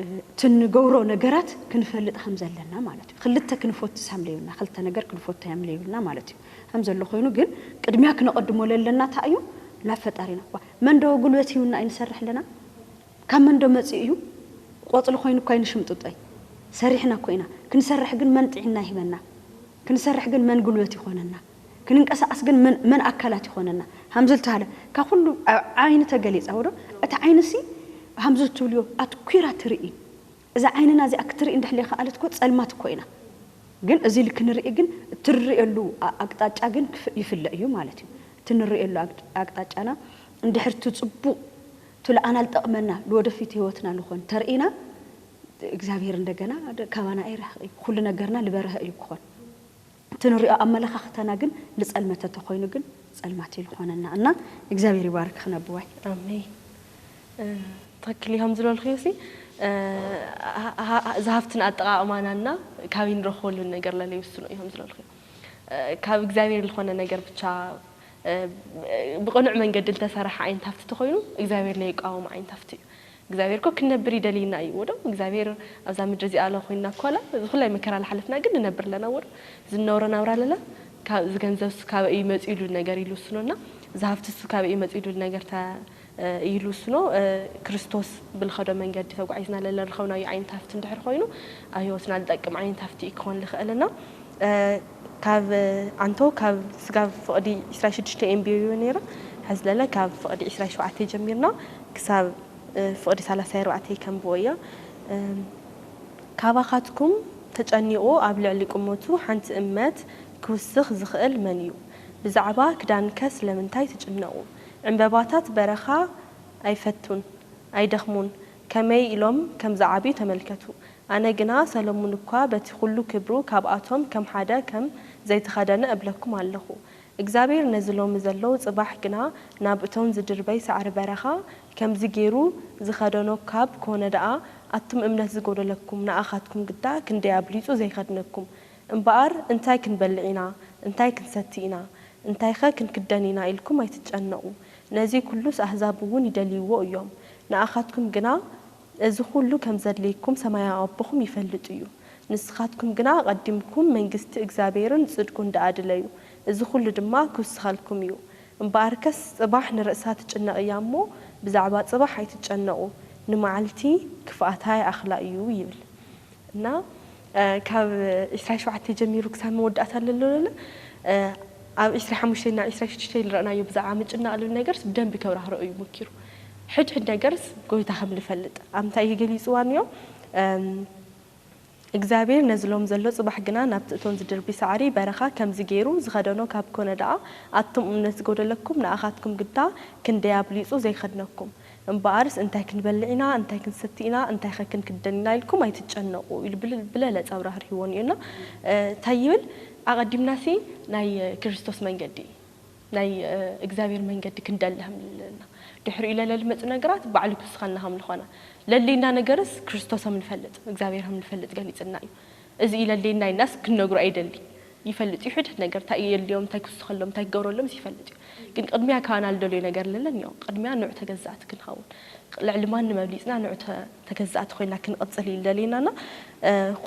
[SPEAKER 2] እቲ ንገብሮ ነገራት ክንፈልጥ ከምዘለና ማለት እዩ ክልተ ክንፎትስ ሃምለዩና ክልተ ነገር ክንፎት ሃምለዩና ማለት እዩ ከምዘሎ ኮይኑ ግን ቅድሚያ ክነቀድሞ ለለና እንታይ እዩ ናብ ፈጣሪና እኳ መንዶ ጉልበት ሂውና እዩ ንሰርሕ ኣለና ካብ መንዶ መፂኡ እዩ ቆፅሊ ኮይኑ እኳ ይንሽምጥጦይ ሰሪሕና እኮ ኢና ክንሰርሕ ግን መን ጥዒና ይህበና ክንሰርሕ ግን መን ጉልበት ይኾነና ክንንቀሳቀስ ግን መን መን ኣካላት ይኾነና ሃምዚ ልተሃለ ካብ ኹሉ ኣብ ዓይኒ ተገሊጻ ዶ እታ ዓይኒ ሲ ሃምዚ ልትብልዮ ኣትኲራ ትርኢ እዛ ዓይንና እዚኣ ክትርኢ እንድሕር ለይኸኣለት እኮ ጸልማት እኮ ኢና ግን እዚ ኢሊ ክንርኢ ግን እትርእየሉ ኣቅጣጫ ግን ይፍለ እዩ ማለት እዩ እቲ ንርእየሉ ኣቅጣጫና እንድሕር እቲ ጽቡቅ እቲ ልኣና ልጠቅመና ልወደፊት ህይወትና ልኾን ተርኢና እግዚኣብሔር እንደገና ካባና ኣይርሕቅ እዩ ኹሉ ነገርና ልበረሀ እዩ ክኾን። እቲ ንሪኦ ኣመለኻኽታና ግን ልፀልመተ ተኾይኑ ግን ፀልማት እዩ ልኾነና እና እግዚኣብሔር ይባርክኽን ኣቦዋይ።
[SPEAKER 3] ኣሜን ትክክል እዩ
[SPEAKER 2] ከምዝበልክዮ ሲ
[SPEAKER 3] ዝሃፍትን ኣጠቃቅማና እና ካብይ ንረክበሉን ነገር ለለ ይውስኖ እዩ ከምዝበልክዮ ካብ እግዚኣብሔር ልኾነ ነገር ብቻ ብቅኑዕ መንገዲ ልተሰረሐ ዓይነት ሃፍቲ ተኾይኑ እግዚኣብሔር ለይቃወሞ ዓይነት ሃፍቲ እዩ እግዚኣብሄር እኮ ክንነብር ይደልይና እዩ እዎዶ እግዚኣብሄር ኣብዛ ምድሪ እዚኣ ኣሎ ኮይንና እኮ ኣላ እዚ ኩላይ መከራ ላሓለፍና ግን ንነብር ኣለና እዎዶ እዚ ንነብሮ ናብራ ለለ ካብ እዚ ገንዘብስ ካበይ እዩ መጺኡ ኢሉ ነገር ኢሉ ውስኖ እና እዚ ሃፍትስ ካበይ እዩ መጺኡ ኢሉ ነገር ተ ኢሉ ውስኖ ክርስቶስ ብልኸዶ መንገዲ ተጓዒዝና ለለ ንረኸብናዮ ዓይነት ሃፍቲ እንድሕር ኮይኑ ኣብ ህይወትና ልጠቅም ዓይነት ሃፍቲ እዩ ክኾን ልኸእል እና ካብ ኣንቶ ካብ ስጋብ ፍቕዲ ዕስራይ ሽዱሽተ የንብዮ ነይረ። ሕዚ ለለ ካብ ፍቕዲ ዕስራይ ሸውዓተ ጀሚርና ክሳብ ፍቕዲ ሳላሳይ ኣርባዕተ ይከንብቦ እዮ። ካባኻትኩም ተጨኒቑ ኣብ ልዕሊ ቁመቱ ሓንቲ እመት ክውስኽ ዝኽእል መን እዩ? ብዛዕባ ክዳንከ ስለምንታይ ትጭነቑ? ዕምበባታት በረኻ ኣይፈቱን? ኣይደኽሙን? ከመይ ኢሎም ከም ዝዓብዩ ተመልከቱ። ኣነ ግና ሰሎሙን እኳ በቲ ዅሉ ክብሩ ካብኣቶም ከም ሓደ ከም ዘይተኸደነ እብለኩም ኣለኹ። እግዚኣብሄር ነዚ ሎሚ ዘሎ ጽባሕ ግና ናብ እቶን ዝድርበይ ሳዕሪ በረኻ ከምዚ ገይሩ ዝኸደኖ ካብ ኮነ ደኣ ኣቱም እምነት ዝጐደለኩም ንኣኻትኩም ግዳ ክንደይ ኣብሊጹ ዘይከድነኩም። እምበኣር እንታይ ክንበልዕ ኢና እንታይ ክንሰቲ ኢና እንታይኸ ክንክደን ኢና ኢልኩም ኣይትጨነቑ። ነዚ ኵሉስ ኣህዛብውን ይደልይዎ እዮም ንኣኻትኩም ግና እዚ ዅሉ ከም ዘድልየኩም ሰማያዊ ኣቦኹም ይፈልጥ እዩ። ንስኻትኩም ግና ኣቐዲምኩም መንግስቲ እግዚኣብሄርን ጽድቁን ደኣ ድለዩ፣ እዚ ዅሉ ድማ ኪውስኸልኩም እዩ። እምበኣርከስ ጽባሕ ንርእሳ ትጭነቕ እያ እሞ፣ ብዛዕባ ጽባሕ ኣይትጨነቑ፣ ንመዓልቲ ክፍኣታ ይኣኽላ እዩ ይብል። እና፣ ካብ ዕስራን ሸውዓተይ ጀሚሩ ክሳብ መወዳእታ ለሎለለ ኣብ ዕስራይ ሓሙሽተይ እና ዕስራይ ሽዱሽተይ ልረእናዮ ብዛዕባ ምጭናቕ ልብል ነገርስ ብደንቢ ከብራህርኦ እዩ ሞኪሩ። ሕድ ሕድ ነገርስ ጎይታ ከም ልፈልጥ ኣብ ምንታይ እዩ ገሊጽዋ ንዮ? እግዚኣብሔር ነዚ ሎም ዘሎ ጽባሕ ግና ናብቲ እቶን ዝድርቢ ሳዕሪ በረኻ ከምዚ ገይሩ ዝኸደኖ ካብ ኮነ ደኣ ኣቱም እምነት ዝጎደለኩም ንኣኻትኩም ግዳ ክንደይ ኣብሊጹ ዘይኸድነኩም። እምበኣርስ እንታይ ክንበልዕ ኢና፣ እንታይ ክንሰቲ ኢና፣ እንታይኸ ክንክደን ኢና ኢልኩም ኣይትጨነቑ ኢሉ ብለለ ጸብራ ህርሂዎ እኒኦ እና እንታይ ይብል ኣቐዲምናሲ ናይ ክርስቶስ መንገዲ ናይ እግዚኣብሔር መንገዲ ክንደሊ ሃምልለና ድሕሪኡ ለለሊ መጹ ነገራት ባዕሉ ክስኸና ሃምልኾና ለሌና ነገርስ ክርስቶስ ሃምንፈልጥ እግዚኣብሔር ሃምንፈልጥ ገሊጽልና እዩ እዚ እዩ ለሌና ኢልናስ ክንነግሮ ኣይደሊ ይፈልጥ እዩ ሕድሕድ ነገር እንታይ እዩ የድልዮም እንታይ ክውስኸሎም እንታይ ክገብረሎምስ ይፈልጥ እዩ ግን ቅድሚያ ካባና ልደልዮ ነገር ለለን እዮ ቅድሚያ ንዑ ተገዛእቲ ክንኸውን ልዕሊ ማንም ኣብሊጽና ንዑ ተገዛእቲ ኮይና ክንቕጽል እዩ ልደልየና እና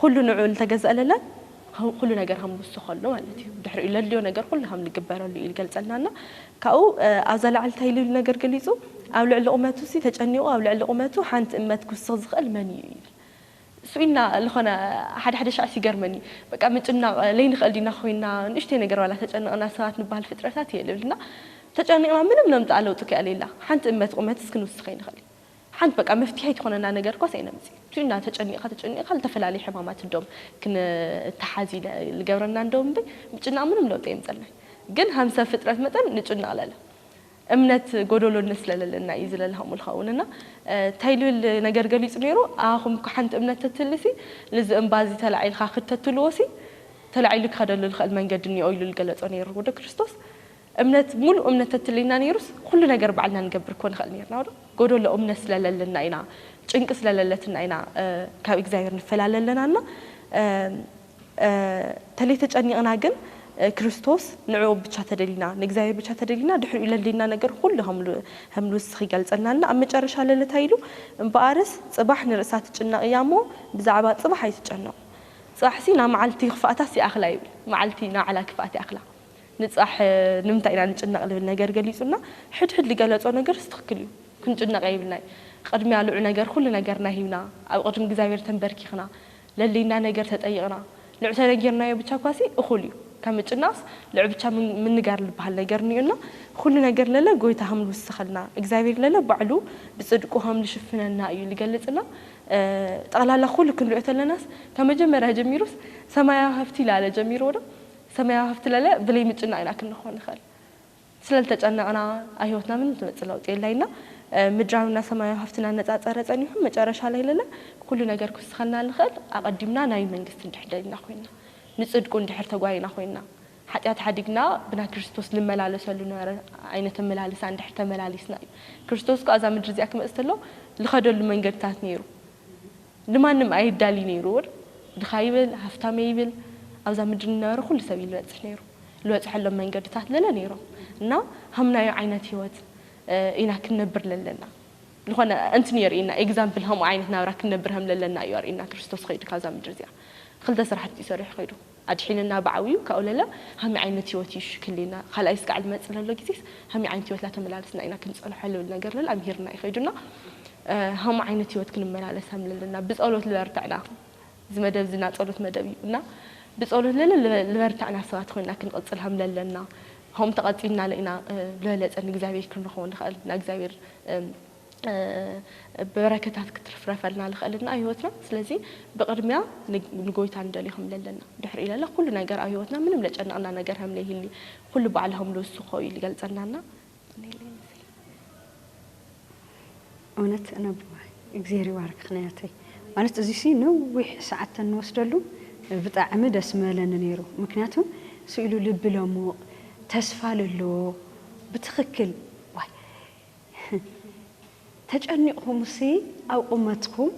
[SPEAKER 3] ኩሉ ንዑ ልተገዛእ ለለን ኩሉ ነገር ከም ዝውስኸሉ ማለት እዩ ድሕሪኡ ለድልዮ ነገር ኩሉ ከም ልግበረሉ እዩ ልገልጸልና እና ካብኡ ኣብዛ ላዕሊ እንታይ ልብል ነገር ገሊጹ ኣብ ልዕሊ ቁመቱ ሲ ተጨኒቑ ኣብ ልዕሊ ቁመቱ ሓንቲ እመት ክውስኽ ዝኽእል መን እዩ ይብል ስቅ ኢልና ልኾነ ሓደ ሓደ ሻዕስ ይገርመኒ በቃ ምጭናቅ ለይንኽእል ዲና ኮይና ንእሽተይ ነገር ዋላ ተጨንቅና ሰባት ንባሃል ፍጥረታት እየ ልብል እና ተጨኒቅና ምንም ነምጽኣ ለውጢ ከ የሌላ ሓንቲ እመት ቁመትስ ክንውስኽ ኣይንኽእል ሓንቲ በቃ መፍቲሐይ ትኾነና ነገር ኳስ ኣይነምጽ ስቅ ኢልና ተጨኒቅኻ ተጨኒቅኻ ልተፈላለዩ ሕማማት እዶም ክንታሓዝ ኢለ ልገብረና እንዶ እምበይ ምጭናቅ ምንም ለውጢ ኣየምጸልናይ ግን ሀም ሰብ ፍጥረት መጠን ንጭነቅ ለለ እምነት ጎዶሎነት ስለ ለለና እዩ ዝለለ ከምኡ ልኸውን እና ታይ ልብል ነገር ገሊጹ ነይሩ ኣኹም እኮ ሓንቲ እምነት ተትህሊ ሲ ልዚ እምባ እዚ ተላዒልኻ ክድ ተትልዎ ሲ ተላዒሉ ክኸደሉ ልኸእል መንገዲ እኒኦ ኢሉ ልገለጾ ነይሩ ወደ ክርስቶስ እምነት ሙሉእ እምነት ተትህልየና ነይሩስ ኩሉ ነገር ባዕልና ንገብር እኮ ንኸእል ነይርና ወደ ጎዶሎ እምነት ስለ ለለና ኢና ጭንቂ ስለ ለለትና ኢና ካብ እግዚኣብሔር ንፈላለ ለና እና ተለይ ተጨኒቕና ግን ክርስቶስ ንዕኡ ብቻ ተደሊና ንእግዚኣብሔር ብቻ ተደሊና ድሕሪኡ ለልድና ነገር ኹሉ ሀምልውስኽ ይገልጸልና እና ኣብ መጨረሻ ለለ ታይ ኢሉ እምበኣርስ ጽባሕ ንርእሳ ትጭነቕ እያ እሞ ብዛዕባ ጽባሕ ኣይትጨነቑ ጽባሕሲ ናይ መዓልቲ ክፍኣታስ ይኣኽላ ይብል መዓልቲ ናይ ባዕላ ክፍኣት ይኣኽላ ንጽባሕ ንምንታይ ኢና ንጭነቕ ልብል ነገር ገሊጹልና ሕድ ሕድ ልገለጾ ነገርስ ትኽክል እዩ ክንጭነቕ የብልናይ ቕድሚያ ልዑ ነገር ኹሉ ነገርና ሂብና ኣብ ቕድሚ እግዚኣብሔር ተንበርኪኽና ለሊና ነገር ተጠይቕና ልዑተነጊርናዮ ብቻ እኳሲ እኹል እዩ ከምጭናስ ልዑ ብቻ ምንጋር ልበሃል ነገር እኒኡ እና ኹሉ ነገር ለለ ጎይታ ሀም ልውስኸልና እግዚኣብሔር ለለ ባዕሉ ብፅድቁ ሀም ልሽፍነና እዩ ልገልፅ እና ጠቕላላ ኹሉ ክንሪኦ ተለናስ ከመጀመርያ ጀሚሩስ ሰማያዊ ሀፍቲ ላለ ጀሚርዎ ዶ ሰማያዊ ሀፍቲ ለለ ብለይ ምጭናቅ ኢና ክንኾን ንኸል ስለ ልተጨነቕና ኣብ ህይወትና ምንም ዝመጽእ ለውጢ የለ ኢልና ምድራዊና ሰማያዊ ሃፍትና እናጻጸረ ጸኒሑ መጨረሻ ላይ ለለ ኩሉ ነገር ክውስኸልና ልኸእል ኣቐዲምና ናይ መንግስቲ እንድሕር ደሊና ኮይንና ንጽድቁ እንድሕር ተጓይና ኮይንና ሓጢኣት ሓዲግና ብናይ ክርስቶስ ልመላለሰሉ ነበረ ዓይነት ኣመላልሳ እንድሕር ተመላሊስና እዩ ክርስቶስ ክኣ እዛ ምድሪ እዚኣ ክመጽእ ተሎ ልኸደሉ መንገድታት ነይሩ ንማንም ኣይዳልይ ነይሩ ውን ድኻ ይብል ሃፍታመ ይብል ኣብዛ ምድሪ ንነበረ ኩሉ ሰብ እዩ ልበጽሕ ነይሩ ልበጽሐሎም መንገድታት ለለ ነይሮም እና ሃምናዮ ዓይነት ሂወት ኢና ክንነብር ለለና ልኾነ እንትን የርእየና ኤግዛምፕል ሀምኡ ዓይነት ናብራ ክንነብር ሀም ለለና እዩ ኣርእየና ክርስቶስ ኸይዱ ካብዛ ምድሪ እዚኣ ኽልተ ስራሕቲ እዩ ሰሪሑ ኸይዱ ኣድሒንና ብዓብዩ ካብኡ ለለ ሃመይ ዓይነት ህይወት እዩ እሺ ክህልየና ካልኣይ ስጋዕ ልመፅእ ለሎ ጊዜስ ሃመይ ዓይነት ህይወት ላተመላለስና ኢና ክንፀንሖ ልብል ነገር ለለ ኣምሂርና እዩ ከይዱና ሃሞ ዓይነት ህይወት ክንመላለስ ሃም ለለና ብፀሎት ልበርትዕና እዚ መደብ እዚ ናፀሎት መደብ እዩ እና ብፀሎት ለለ ልበርትዕና ሰባት ኮይና ክንቕፅል ሃም ለለና ሆም ተቐፂልናለ ኢና ልበለፀ ንእግዚኣብሔር ክንረኸቦ ንኸእል ናእግዚኣብሔር በረከታት ክትርፍረፈልና ልክእልና ኣብ ህይወትና ስለዚ ብቅድሚያ ንጎይታ ንደልዮ ከም ለለና ድሕሪኡ ለለ ኩሉ ነገር ኣብ ህይወትና ምንም ለጨነቅና ነገር ከም ለይህሊ ኩሉ ባዕሉ ከም ልውስኮ እዩ ልገልፀልና እና
[SPEAKER 2] እውነት ነቦ እግዜር ይባርክኽ ናያተይ ማለት እዚሲ ነዊሕ ሰዓት ተንወስደሉ ብጣዕሚ ደስ ምበለኒ ነይሩ ምክንያቱ ስኢሉ ልቢ ለሙቕ ተስፋ ለለዎ ብትኽክል ተጨኒቅኹምሲ ኣብ ቁመትኩም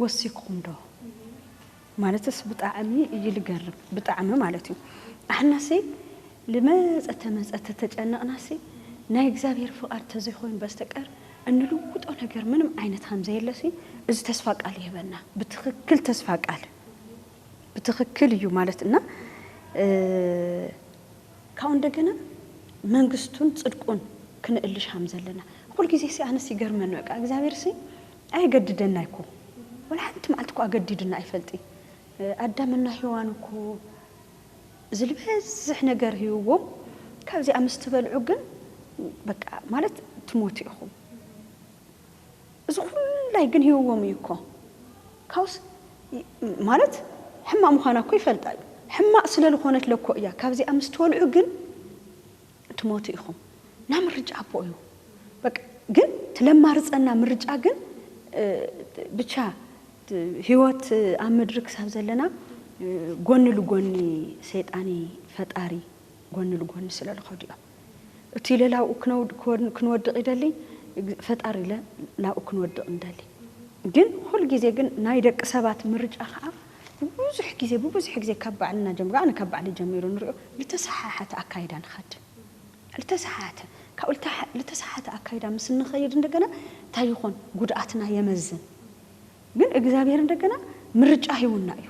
[SPEAKER 2] ወሲክኹም ዶ ማለትስ ብጣዕሚ እዩ ልገርም ብጣዕሚ ማለት እዩ ኣሕናሲ ልመፀ ተመፀ ተተጨነቅናሲ ናይ እግዚኣብሔር ፍቃድ ተዘይኮይኑ በስተቀር እንልውጦ ነገር ምንም ዓይነት ከምዘየለሲ እዚ ተስፋ ቃል ይህበና ብትክክል ተስፋ ቃል ብትክክል እዩ ማለት እና ካብኡ እንደገና መንግስቱን ጽድቁን ክነእልሽ ሃም ዘለና ኹል ጊዜሲ ኣነስ ይገርመኒ በቃ እግዚኣብሔርሲ ኣየገድደን ኣይኮ ወላ ሓንቲ መዓልቲ እኮ ኣገዲዱና ኣይፈልጢ ኣዳም እና ሄዋን እኮ ዝልበዝሕ ነገር ህይዎም ካብዚኣ ምስ ትበልዑ ግን በቃ ማለት ትሞቱ ኢኹም። እዚ ኩሉ ኣይግንህዎም እዩ እኮ ካብስ ማለት ሕማቅ ምኳና እኮ ይፈልጣ እዩ ሕማቅ ስለልኮነት ለኮ እያ ካብዚኣ ምስ ትወልዑ ግን ትሞቱ ኢኩም እና ምርጫ ኣቦ እዩ በቃ ግን ትለማርፀና ምርጫ ግን ብቻ ህይወት ኣብ ምድሪ ክሳብ ዘለና ጎኒ ልጎኒ ሰይጣኒ ፈጣሪ ጎኒ ልጎኒ ስለልከዱ እዮም። እቲለ ላብኡ ክንወድቅ ይደሊ ፈጣሪለ ናብኡ ክንወድቅ ንደሊ ግን ኹል ግዜ ግን ናይ ደቂ ሰባት ምርጫ ኸኣ ንብዙሕ ግዜ ብብዙሕ ግዜ ካብ ባዕልና ጀሚሩ ኣነ ካብ ባዕለይ ጀሚሩ ንሪኦ ልተሰሓሓተ ኣካይዳ ንኸድ ልተሰሓሓተ ካብኡ ልተሰሓሓተ ኣካይዳ ምስ እንኸይድ እንደገና እንታይ ይኾን ጉድኣትና የመዝን ግን እግዚኣብሄር እንደገና ምርጫ ሂቡና እዩ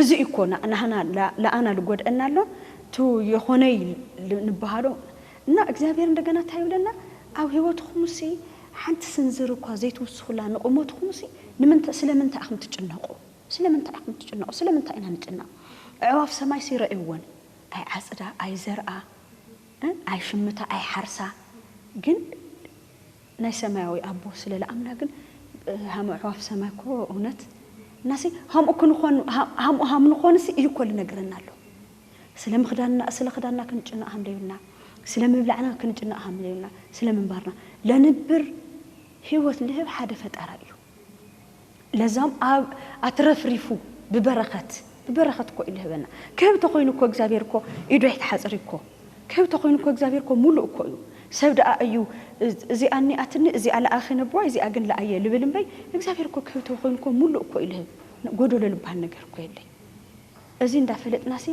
[SPEAKER 2] እዚ እዩ እኮ ናህና ልኣና ልጎድእና ኣሎ እቱ የኾነይ ልንብሃሎ እና እግዚኣብሔር እንደገና እንታይ ይብለና ኣብ ህይወትኹምሲ ሓንቲ ስንዝር እኳ ዘይትውስኹላ ንቑመትኹምሲ ንምንታይ ስለምንታይ ኢኹም ትጭነቑ ስለምንታይ ኢኹም ትጭነቑ ስለምንታይ ኢና ንጭነቕ ኣዕዋፍ ሰማይሲ ረእይወን ኣይዓፅዳ ኣይዘርኣ ኣይሽምታ ኣይሓርሳ ግን ናይ ሰማያዊ ኣቦ ስለ ልኣምና ግን ሃም ኣዕዋፍ ሰማይ እኮ እውነት እናሲ ሃምኡ ክንኾን ሃምኡ ሃም ንኾንሲ እዩ እኮ ልነግረና ኣሎ ስለ ምኽዳንና ስለ ኽዳንና ክንጭነቅ ሃም ለዩና ስለ ምብላዕና ክንጭነቅ ሃም ለዩና ስለ ምንባርና ለንብር ህይወት ልህብ ሓደ ፈጣራ እዩ ለዛም ኣብ ኣትረፍሪፉ ብበረኸት ብበረኸት እኮ እዩ ልህበና ክህብ ተኾይኑ እኮ እግዚኣብሔር እኮ ኢዱ ኣይትሓጽር እኮ ክህብ ተኾይኑ እኮ እግዚኣብሔር እኮ ሙሉእ እኮ እዩ ሰብ ደኣ እዩ እዚኣ እኒኣትኒ እዚኣ ለኣኺ ነቦዋይ እዚኣ ግን ለኣየ ልብል እምበይ እግዚኣብሔር እኮ ክህብ ተኾይኑ እኮ ሙሉእ እኮ እዩ ልህብ ጎደሎ ልበሃል ነገር እኮ የለይ እዚ እንዳ ፈለጥናሲ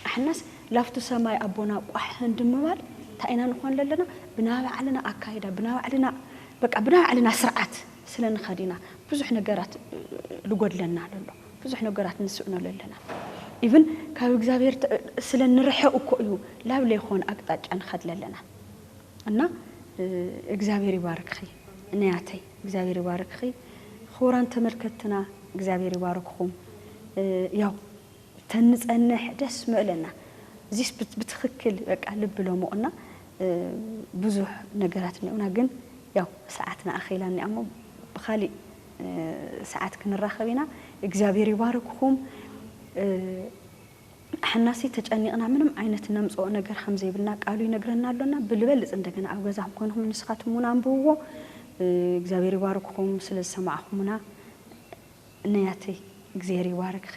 [SPEAKER 2] ኣሕናስ ላፍቶ ሰማይ ኣቦና ቋሕ እንድምባል ታይ ኢና ንኾን ለለና ብናይ ባዕልና ኣካይዳ ብናይ ባዕልና በቃ ብናይ ባዕልና ስርዓት ስለ ንኸድ ኢና ብዙሕ ነገራት ልጎድለና ለሎ ብዙሕ ነገራት ንስእኖ ለለና ኢቭን ካብ እግዚኣብሔር ስለ ንርሕቅ እኮ እዩ ላብ ለይኾን ኣቅጣጫ ንኸድ ለለና እና እግዚኣብሔር ይባርክኺ ንያተይ እግዚኣብሔር ይባርክኺ ኽቡራን ተመልከትትና እግዚኣብሔር ይባርክኹም። ያው ተንጸንሕ ደስ ምእለና እዚስ ብትክክል በቃ ልብ ለሙቕ እና ብዙሕ ነገራት እኒኦና ግን ያው ሰዓትና ኣኺላ እኒኣ እሞ ብኻሊእ ሰዓት ክንራኸብ ኢና እግዚኣብሔር ይባርክኹም ኣሕናሲ ተጨኒቕና ምንም ዓይነት ነምጽኦ ነገር ከም ዘይብልና ቃሉ ይነግረና ኣሎ እና ብልበልጽ እንደገና ኣብ ገዛኹም ኮይንኹም ንስኻትኩም እውን ኣንብብዎ እግዚኣብሔር ይባርክኹም ስለ ዝሰማዕኹምና ንያተይ እግዜር ይባርክኺ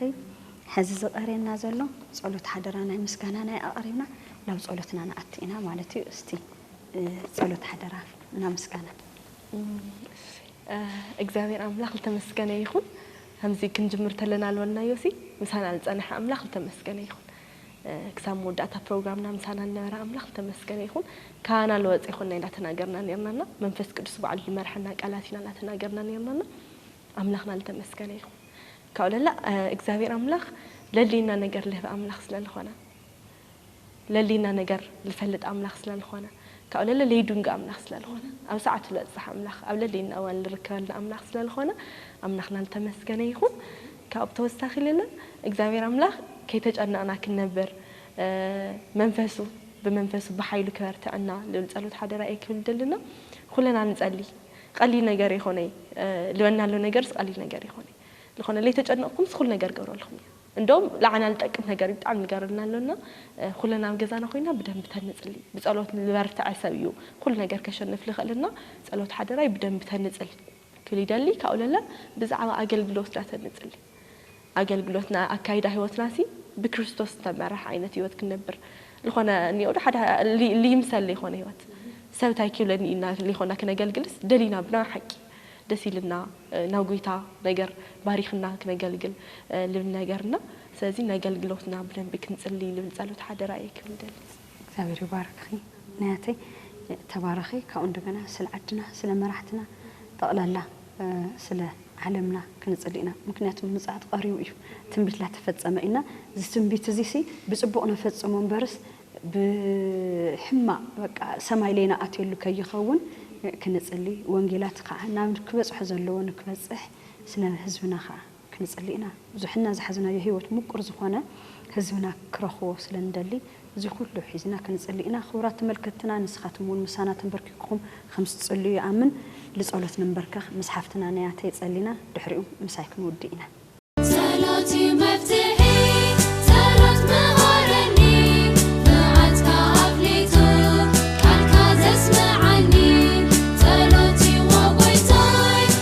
[SPEAKER 2] ሐዚ ዝቀርየና ዘሎ ፀሎት ሓደራ ናይ ምስጋና ናይ ኣቅሪብና ናብ ፀሎትና ንኣቲ ኢና ማለት እዩ እስቲ ፀሎት ሓደራ እና ምስጋና።
[SPEAKER 3] እግዚኣብሔር ኣምላክ ልተመስገነ ይኩን ከምዚ ክንጅምር ተለና ልበልናዮሲ ምሳና ልፀነሐ ኣምላክ ልተመስገነ ይኩን ክሳብ መወዳእታ ፕሮግራምና ምሳና ልነበረ ኣምላክ ልተመስገነ ይኩን ካባና ልወፀ ይኮንና ኢና ተናገርና ነርና እና መንፈስ ቅዱስ ባዕሉ ልመርሐና ቃላት ኢና ናተናገርና ነርና እና ኣምላክና ልተመስገነ ይኩን ካብኡ ለላ እግዚኣብሔር ኣምላክ ለልይና ነገር ልህብ ኣምላክ ስለ ልኮነ ለልይና ነገር ልፈልጥ ኣምላክ ስለ ልኮነ ካብኡ ለለ ለይዱንግ ኣምላክ ስለ ልኮነ ኣብ ሰዓቱ ለብጽሕ ኣምላክ ኣብ ለልይና እዋን ልርከበልና ኣምላክ ስለ ልኮነ ኣምላክና ልተመስገነ ይኩን ካብኡ ብተወሳኪ ለለ እግዚኣብሔር ኣምላክ ከይተጨነቅና ክንነብር መንፈሱ ብመንፈሱ ብሓይሉ ክበርትዐና ልብል ጸሎት ሓደራ እየ ክብል ደልና ኩለና ንጸልይ ቐሊል ነገር የኾነይ ልበና ኣሎ ነገርስ ቐሊል ነገር የኾነይ ልኾነ ለይተጨነቕኩምስ ኹሉ ነገር እገብረልኹም እየ እንደውም ልዓና ልጠቅም ነገር እዩ ብጣዕሚ ልገርልና ኣሎና ኹለና ኣብ ገዛና ኾይና ብደንቢ ተንፅሊ ብፀሎት ልበርትዐ ሰብ እዩ ኹሉ ነገር ከሸንፍ ልኽእል እና ፀሎት ሓደራይ ብደንቢ ተንፅል ክብል ይደሊ ካብኡ ለለ ብዛዕባ ኣገልግሎት ዳተንፅሊ ኣገልግሎትና ኣካይዳ ህይወትናሲ ብክርስቶስ ዝተመርሐ ዓይነት ህይወት ክንነብር ልኾነ እኒኦዶ ሓደ ልይምሰል ልይኾነ ህይወት ሰብ ታይ ኪብለኒ እዩ እና ልይኾና ክነገልግልስ ደሊና ብናይ ሓቂ ደስ ኢልና ናብ ጎይታ ነገር ባሪኽና ክነገልግል ልብል ነገር እና ስለዚ ነገልግሎትና ብደንቢ ክንፅልይ ልብል ፀሎት ሓደራ እየ ክብል ደሊ። እግዚኣብሔር ይባርክኺ
[SPEAKER 2] ናያተይ ተባረኺ ካብኡ እንደገና ስለ ዓድና ስለ መራሕትና ጠቅላላ ስለ ዓለምና ክንጽሊ ኢና ምክንያቱ ምጽኣት ቀሪቡ እዩ ትንቢት ላተፈጸመ እና እዚ ትንቢት እዚ ሲ ብጽቡቅ ነፈጽሞ እምበርስ ብሕማቅ በቃ ሰማይ ለይና ኣትየሉ ከይኸውን ክንጽሊ ወንጌላት ከኣ ናብ ክበጽሖ ዘለዎ ንክበጽሕ ስለ ህዝብና ከኣ ክንጽሊ ኢና ብዙሕና ዝሓዝናዮ ሂወት ሙቁር ዝኮነ ህዝብና ክረክቦ ስለ ንደሊ እዚ ኩሉ ሒዝና ክንጽሊ ኢና ክቡራት ተመልከትትና ንስካትም ውን ምሳና ተንበርኪኩኩም ከም ዝትጽልዩ ይኣምን ልጸሎት ንንበርከክ ምስ ሓፍትና ነያተይ ጸሊና ድሕሪኡ ምሳይ ክንውድእ ኢና። ጸሎት
[SPEAKER 1] ዩ መፍትሒ ጸሎት ምሃረኒ መዓትካ ኣፍሊጡ ቃልካ ዘስምዓኒ ጸሎት ዩ ዎጎይታይ።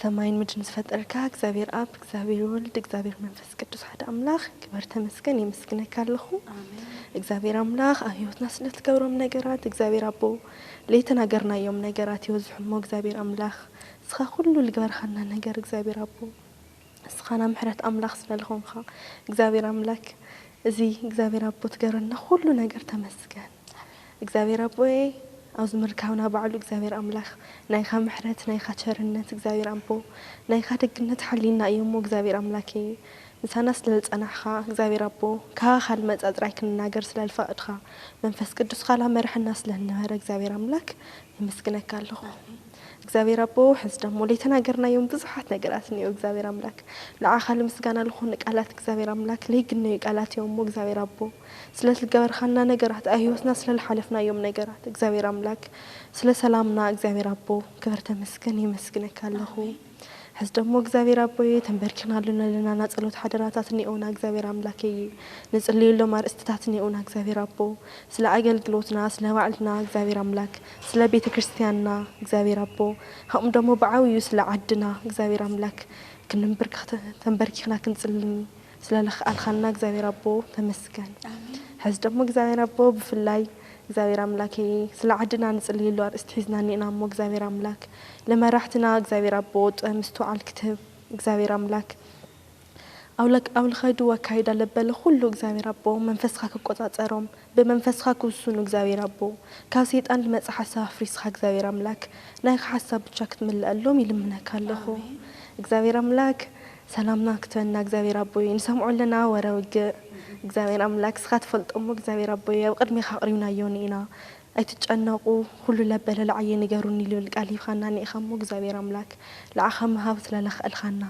[SPEAKER 3] ሰማይን ምድርን ዝፈጠርካ እግዚኣብሔር ኣብ እግዚኣብሔር ወልድ እግዚኣብሔር መንፈስ ቅዱስ ሓደ ኣምላኽ ክበር ተመስገን የመስግነካ ኣለኹ እግዚኣብሔር ኣምላኽ ኣብ ህይወትና ስለ ትገብሮም ነገራት እግዚኣብሔር ኣቦ ለይተናገርናዮም ነገራት ይወዝሑ እሞ እግዚኣብሔር ኣምላኽ እስኻ ኩሉ ልግበርኻና ነገር እግዚኣብሔር ኣቦ እስኻ ናብ ምሕረት ኣምላኽ ስለ ዝኾንኻ እግዚኣብሔር ኣምላክ እዚ እግዚኣብሔር ኣቦ ትገብረና ኩሉ ነገር ተመስገን እግዚኣብሔር ኣቦየ ኣብዚ ምርካብና ባዕሉ እግዚኣብሔር ኣምላክ ናይካ ምሕረት ናይካ ቸርነት እግዚኣብሔር ኣቦ ናይካ ደግነት ሓልዩና እዩ እሞ እግዚኣብሔር ኣምላኬ ምሳና ስለዝፀናሕካ እግዚኣብሔር ኣቦ ካባካ ልመፃ ጥራይ ክንናገር ስለልፈቅድካ መንፈስ ቅዱስካ ላመረሐና ስለልነበረ እግዚኣብሔር ኣምላክ የመስግነካ ኣለኩ እግዚኣብሔር ኣቦ ሕዚ ደሞ ለይተናገርናዮም ብዙሓት ነገራት እኒኦ እግዚኣብሔር ኣምላክ ንዓካ ልምስጋና ልኮኑ ቃላት እግዚኣብሔር ኣምላክ ለይግነዩ ቃላት እዮም እሞ እግዚኣብሔር ኣቦ ስለ ዝገበርካልና ነገራት ኣብ ሂወትና ስለ ልሓለፍናዮም ነገራት እግዚኣብሔር ኣምላክ ስለ ሰላምና እግዚኣብሔር ኣቦ ክብር ተመስገን የመስግነካ ኣለኩ ሕዚ ደሞ እግዚኣብሔር ኣቦየ ተንበርኪክናሉ ነለና ናጸሎት ሓደራታት ኒኦና እግዚኣብሔር ኣምላከየ ንጽልየሎም ኣርእስትታት ኒኦና እግዚኣብሔር ኣቦ ስለ ኣገልግሎትና ስለ ባዕልና እግዚኣብሔር ኣምላክ ስለ ቤተክርስትያንና እግዚኣብሔር ኣቦ ከምኡ ደሞ ብዓብዩ ስለ ዓድና እግዚኣብሔር ኣምላክ ክንምብርክክ ተንበርኪክና ክንጽልይ ስለ ልክኣልካልና እግዚኣብሔር ኣቦ ተመስገን ሐዚ ደሞ እግዚኣብሔር ኣቦ ብፍላይ እግዚኣብሔር ኣምላኬ ስለ ዓድና ንፅልየሉ ኣርእስቲ ሒዝና እኒእና እሞ እግዚኣብሔር ኣምላክ ልመራሕትና እግዚኣብሔር ኣቦ ጥበብ ምስትውዓል ክትህብ እግዚኣብሔር ኣምላክ ኣብ ልከዱ ኣካይዳ ለበለ ኩሉ እግዚኣብሔር ኣቦ መንፈስካ ክቆፃፀሮም ብመንፈስካ ክውሱኑ እግዚኣብሔር ኣቦ ካብ ሰይጣን ልመፀ ሓሳብ ኣፍሪስካ እግዚኣብሔር ኣምላክ ናይካ ሓሳብ ብቻ ክትምለኣሎም ይልምነካ ኣለኩ እግዚኣብሔር ኣምላክ ሰላምና ክትበና እግዚኣብሔር ኣቦይ ንሰምዖ ኣለና ወረ ውግእ እግዚኣብሔር ኣምላክ እስኻ ትፈልጦ እሞ እግዚኣብሔር ኣቦይ ኣብ ቅድሜኻ ኣቅሪብናዮ እኒኢና ኣይትጨነቁ ኩሉ ለበለ ልዓየ ንገሩኒ ልብል ቃል ሂብኻና እኒኢኻ እሞ እግዚኣብሔር ኣምላክ ልዓኻ ምሃብ ስለ ለኽእልኻና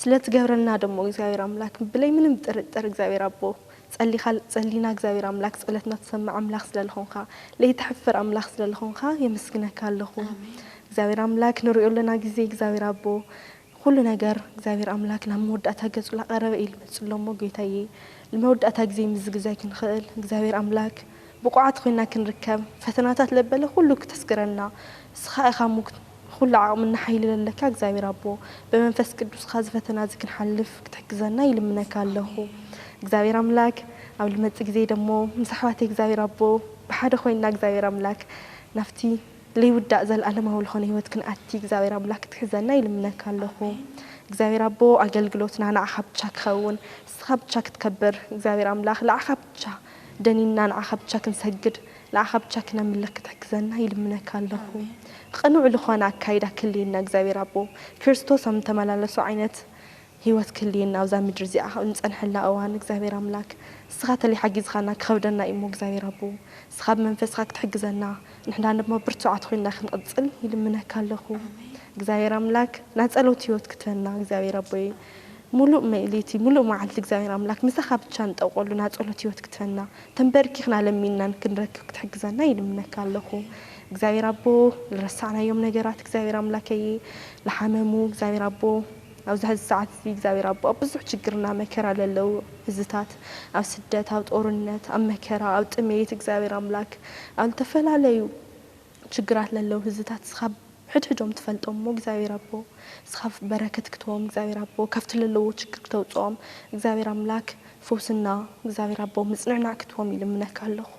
[SPEAKER 3] ስለ ትገብረልና ደሞ እግዚኣብሔር ኣምላክ ብለይ ምንም ጥርጥር እግዚኣብሔር ኣቦ ጸሊኻ ጸሊና እግዚኣብሔር ኣምላክ ጸሎትና ትሰምዕ ኣምላኽ ስለ ልኾንኻ ለይተሕፍር ኣምላኽ ስለ ልኾንኻ የመስግነካ ኣለኹ እግዚኣብሔር ኣምላክ ንሪኦ ኣለና ግዜ እግዚኣብሔር ኣቦ ኹሉ ነገር እግዚኣብሔር ኣምላክ ናብ መወዳእታ ገጹ ላቀረበ እዩ ልመጽእ ኣሎ እሞ ጎይታየ ልመወዳእታ ግዜ ምዝግዛይ ክንኽእል እግዚኣብሔር ኣምላክ ብቁዓት ኾይንና ክንርከብ ፈተናታት ለበለ ኹሉ ክተስግረና እስኻ ኢኻ ሙክት ኹሉ ዓቅምና ሓይሊ ለለካ እግዚኣብሔር ኣቦ በመንፈስ ቅዱስኻ እዚ ፈተና እዚ ክንሓልፍ ክትሕግዘና ይልምነካ ኣለኹ እግዚኣብሔር ኣምላክ ኣብ ልመጽእ ግዜ ደሞ ምስ ኣሕዋተይ እግዚኣብሔር ኣቦ ብሓደ ኾይንና እግዚኣብሔር ኣምላክ ናብቲ ለይውዳእ ዘልኣለማዊ ልኾነ ሕይወት ክንኣቲ እግዚኣብሔር ኣምላክ ክትሕዘና ይልምነካ ኣለኹ እግዚኣብሔር ኣቦ ኣገልግሎትና ንዓኻ ብቻ ክኸውን እስኻ ብቻ ክትከብር እግዚኣብሔር ኣምላክ ልዓኻ ብቻ ደኒንና ንዓኻ ብቻ ክንሰግድ ንዓኻ ብቻ ክነምልኽ ክትሕግዘና ይልምነካ ኣለኹ ቕኑዕ ልኾነ ኣካይዳ ክልየና እግዚኣብሔር ኣቦ ክርስቶስ ኣም ተመላለሱ ዓይነት ህይወት ክህልየና ኣብዛ ምድሪ እዚኣ ኣብ እንጸንሐላ እዋን እግዚኣብሔር ኣምላክ እስኻ ተለይ ሓጊዝኻና ክኸብደና እዩሞ እግዚኣብሔር ኣቦ እስኻ ብመንፈስኻ ክትሕግዘና ንሕና ድማ ብርቱዓት ኮይንና ክንቕጽል ይልምነካ ኣለኹ እግዚኣብሔር ኣምላክ ናይ ጸሎት ህይወት ክትበና እግዚኣብሔር ኣቦየ ሙሉእ መኢሊቲ ሙሉእ መዓልቲ እግዚኣብሔር ኣምላክ ምሳኻ ብቻ ንጠቆሉ ናይ ጸሎት ህይወት ክትበና ተንበርኪኽና ለሚንናን ክንረክብ ክትሕግዘና ይልምነካ ኣለኹ እግዚኣብሔር ኣቦ ልረሳዕናዮም ነገራት እግዚኣብሔር ኣምላከየ ልሓመሙ እግዚኣብሔር ኣቦ ኣብዚ ሐዚ ሰዓት እዚ እግዚኣብሔር ኣቦ ኣብ ብዙሕ ችግርና መከራ ለለዉ ህዝታት ኣብ ስደት ኣብ ጦርነት ኣብ መከራ ኣብ ጥሜት እግዚኣብሔር ኣምላክ ኣብ ልተፈላለዩ ችግራት ለለዉ ህዝታት እስኻ ሕድሕዶም ትፈልጦም እሞ እግዚኣብሔር ኣቦ እስኻ በረከት ክትቦም እግዚኣብሔር ኣቦ ካብቲ ለለዎ ችግር ክተውፅኦም እግዚኣብሔር ኣምላክ ፉውስና እግዚኣብሔር ኣቦ ምጽንዕናዕ ክትቦም ይልምነካ ኣለኩ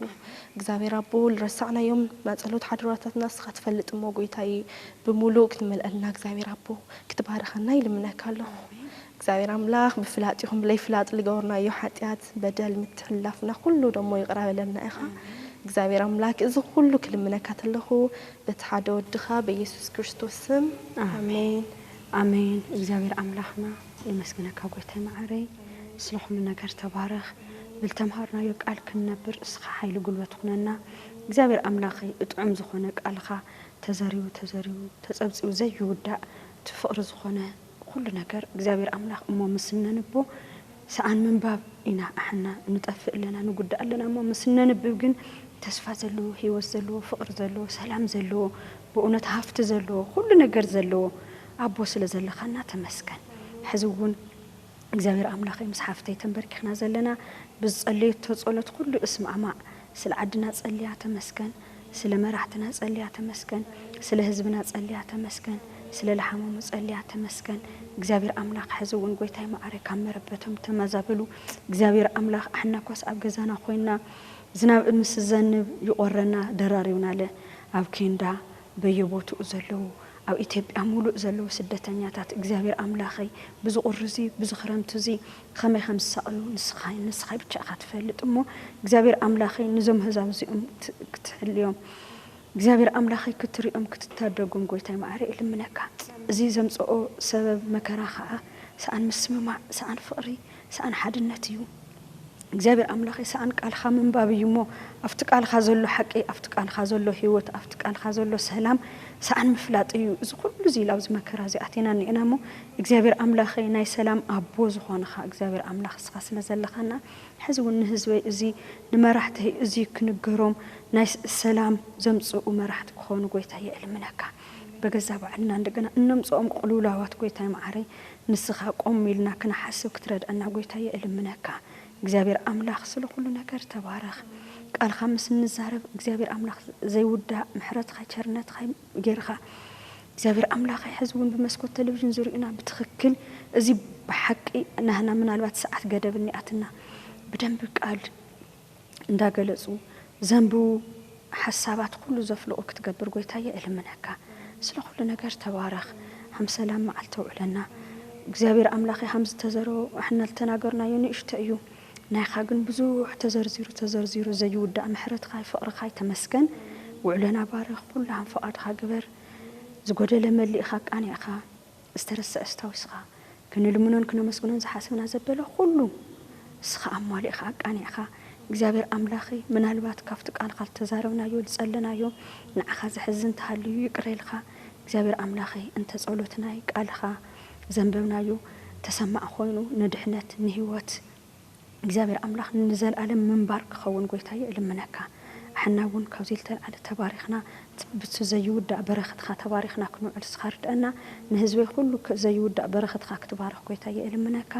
[SPEAKER 3] እግዚኣብሔር ኣቦ ልረሳዕናዮም ናጸሎት ሓደራታትና እስካ ትፈልጥ እሞ ጎይታየ ብሙሉእ ክትመልኣልና እግዚኣብሔር ኣቦ ክትባርኸና ይልምነካ ኣለኩ እግዚኣብሔር ኣምላክ ብፍላጥ ይኩን ብለይፍላጥ ልገበርናዮ ሓጥያት በደል ምትሕልላፍና ኩሉ ደሞ ይቅረ በለልና ኢካ እግዚኣብሔር ኣምላክ እዚ ኩሉ ክልምነካ ተለኩ በቲ ሓደ ወድካ በየሱስ ክርስቶስ ስም ኣሜን ኣሜን
[SPEAKER 2] እግዚኣብሔር ኣምላክና የመስግነካ ጎይታይ መዓረይ ስለ ኩሉ ነገር ተባረክ ብልተምሃርናዮ ቃል ክንነብር እስካ ሓይሊ ጉልበት ኩነና እግዚኣብሔር ኣምላከይ ብጥዑም ዝኮነ ቃልካ ተዘሪቡ ተዘሪቡ ተፀብፂቡ ዘይውዳእ እቲ ፍቅሪ ዝኮነ ኩሉ ነገር እግዚኣብሔር ኣምላክ እሞ ምስ እነንቦ ሰኣን ምንባብ ኢና ኣሕና ንጠፍእ ኣለና ንጉዳእ ኣለና እሞ ምስ እነንብብ ግን ተስፋ ዘለዎ ህይወት ዘለዎ ፍቅሪ ዘለዎ ሰላም ዘለዎ ብእውነት ሃፍቲ ዘለዎ ኩሉ ነገር ዘለዎ ኣቦ ስለ ዘለካና ተመስገን ሕዚ ውን እግዚኣብሔር ኣምላክ እዩ ምስ ሓፍተይ ተንበርኪክና ዘለና ብዝፀለየቶ ፀሎት ኩሉ እስማዕማዕ ስለ ዓድና ፀልያ ተመስገን ስለ መራሕትና ፀልያ ተመስገን ስለ ህዝብና ፀልያ ተመስገን ስለ ልሓመሙ ፀልያ ተመስገን እግዚኣብሔር ኣምላክ ሕዚ ውን ጎይታይ ማዓረይ ካብ መረበቶም ተመዛበሉ እግዚኣብሔር ኣምላክ ኣሕናኳስ ኣብ ገዛና ኮይና ዝናብ ምስ ዝዘንብ ይቆረና ደራሪብናለ ኣብ ኬንዳ በየቦትኡ ዘለዉ ኣብ ኢትዮጵያ ሙሉእ ዘለዉ ስደተኛታት እግዚኣብሔር ኣምላኸይ ብዚ ቁሪ እዚ ብዚ ክረምቲ እዚ ኸመይ ከም ዝሳቅዩ ንስኻይ ንስኻይ ብቻ ኢኻ ትፈልጥ እሞ እግዚኣብሔር ኣምላኸይ ንዞም ኣህዛብ እዚኦም ክትሕልዮም እግዚኣብሔር ኣምላኸይ ክትሪኦም ክትታደጎም ጎይታይ መዓረይ እልምነካ እዚ ዘምፀኦ ሰበብ መከራ ኸዓ ሰኣን ምስምማዕ ሰኣን ፍቅሪ ሰኣን ሓድነት እዩ እግዚኣብሔር ኣምላኸይ ሰኣን ቃልኻ ምንባብ እዩ እሞ ኣብቲ ቃልኻ ዘሎ ሓቂ ኣብቲ ቃልኻ ዘሎ ህይወት ኣብቲ ቃልኻ ዘሎ ሰላም ሰኣን ምፍላጥ እዩ እዚ ኩሉ እዚ ኢላ ኣብዚ መከራ እዚ ኣቴና እኒኤና እሞ እግዚኣብሔር ኣምላኸይ ናይ ሰላም ኣቦ ዝኾንኻ እግዚኣብሔር ኣምላኽ እስኻ ስለ ዘለኻና ሕዚ እውን ንህዝበይ እዚ ንመራሕተይ እዚ ክንገሮም ናይ ሰላም ዘምፅኡ መራሕቲ ክኾኑ ጎይታየ እልምነካ በገዛ ባዕልና እንደገና እነምፅኦም ቁልውላዋት ጎይታይ መዓረይ ንስኻ ቆም ኢልና ክንሓስብ ክትረድኣና ጎይታየ እልምነካ። እግዚኣብሔር ኣምላክ ስለ ኩሉ ነገር ተባረክ። ቃልካ ምስ እንዛረብ እግዚኣብሔር ኣምላክ ዘይውዳእ ምሕረትካ ቸርነትካ ገይርካ እግዚኣብሔር ኣምላከይ ሕዚ እውን ብመስኮት ቴሌቪዥን ዝሪኡና ብትክክል እዚ ብሓቂ ናህና ምናልባት ሰዓት ገደብ እኒኣትና ብደንቢ ቃል እንዳገለጹ ዘንብቡ ሓሳባት ኩሉ ዘፍልቁ ክትገብር ጎይታየ እልምነካ ስለ ኩሉ ነገር ተባረክ ሃም ሰላም መዓልቲ ኣውዕለና እግዚኣብሔር ኣምላኬ ሃም ዝተዘሮ ኣሕና ልተናገርናዮ ንእሽቶ እዩ ናይካ ግን ብዙሕ ተዘርዚሩ ተዘርዚሩ ዘይውዳእ ምሕረትካይ ፍቅርካይ ተመስገን ውዕሎና ባርክ ኩሉ ሃም ፍቃድካ ግበር ዝጎደለ መሊእካ ኣቃኒዕካ ዝተረስዐ ኣስታዊስኻ፣ ክንልምኖን ክነመስግኖን ዝሓሰብና ዘበለ ኹሉ እስኻ ኣሟሊእኻ ኣቃኒዕኻ፣ እግዚኣብሔር ኣምላኸይ ምናልባት ካብቲ ቃልኻ ልተዛረብናዮ ልጸለናዮ ንዓኻ ዘሕዝን ተሃልዩ ይቅረ ኢልኻ እግዚኣብሔር ኣምላኸይ እንተ ጸሎትናይ ቃልኻ ዘንበብናዮ ተሰማዒ ኾይኑ ንድሕነት ንሕይወት እግዚኣብሔር ኣምላክ ንዘልኣለም ምንባር ክከውን ጎይታየ እልምነካ ኣሕና እውን ካብዙይ ልተልዓለ ተባሪክና ብቲ ዘይውዳእ በረክትካ ተባሪክና ክንውዕል እስካ ርደእና ንህዝበይ ኩሉ ዘይውዳእ በረክትካ ክትባርክ ጎይታየ እልምነካ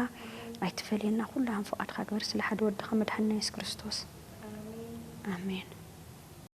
[SPEAKER 2] ኣይትፈልየና ኩሉ ሃም ፍቃድካ ግበር ስለ ሓደ ወድካ መድሓኒና የሱስ ክርስቶስ ኣሜን።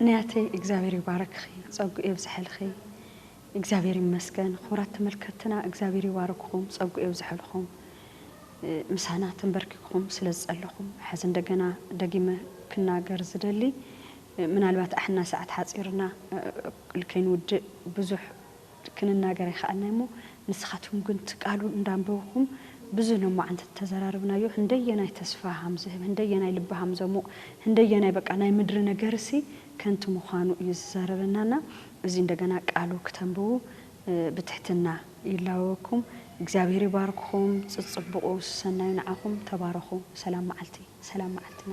[SPEAKER 2] ንያተይ እግዚኣብሔር ይባርክኺ ፀጉኡ የብዝሐልኺ። እግዚኣብሔር ይመስገን ኹብራት ተመልከትትና እግዚኣብሔር ይባርክኹም ፀጉኡ የብዝሐልኹም ምሳና ተንበርኪክኹም ስለ ዝፀለኹም ሐዚ እንደገና ደጊመ ክናገር ዝደሊ ምናልባት ኣሕና ሰዓት ሓፂርና ልከይንውድእ ብዙሕ ክንናገር ኣይኸኣልናይ እሞ ንስኻትኩም ግን ትቃሉ እንዳንበብኹም ብዙህ ሎማዓንቲ ተዘራርብናዮ ህንደየናይ ተስፋ ሃምዝህብ ህንደየናይ ልቢ ሃምዘሙቕ ህንደየናይ በቃ ናይ ምድሪ ነገርሲ ከንቱ ምዃኑ እዩ ዝዛረበና እና እዚ እንደገና ቃሉ ክተንብቡ ብትሕትና ይላወወኩም እግዚኣብሔር ይባርክኹም ጽጽቡቑ ሰናዩ ንዓኹም ተባረኹ ሰላም መዓልቲ ሰላም መዓልትና።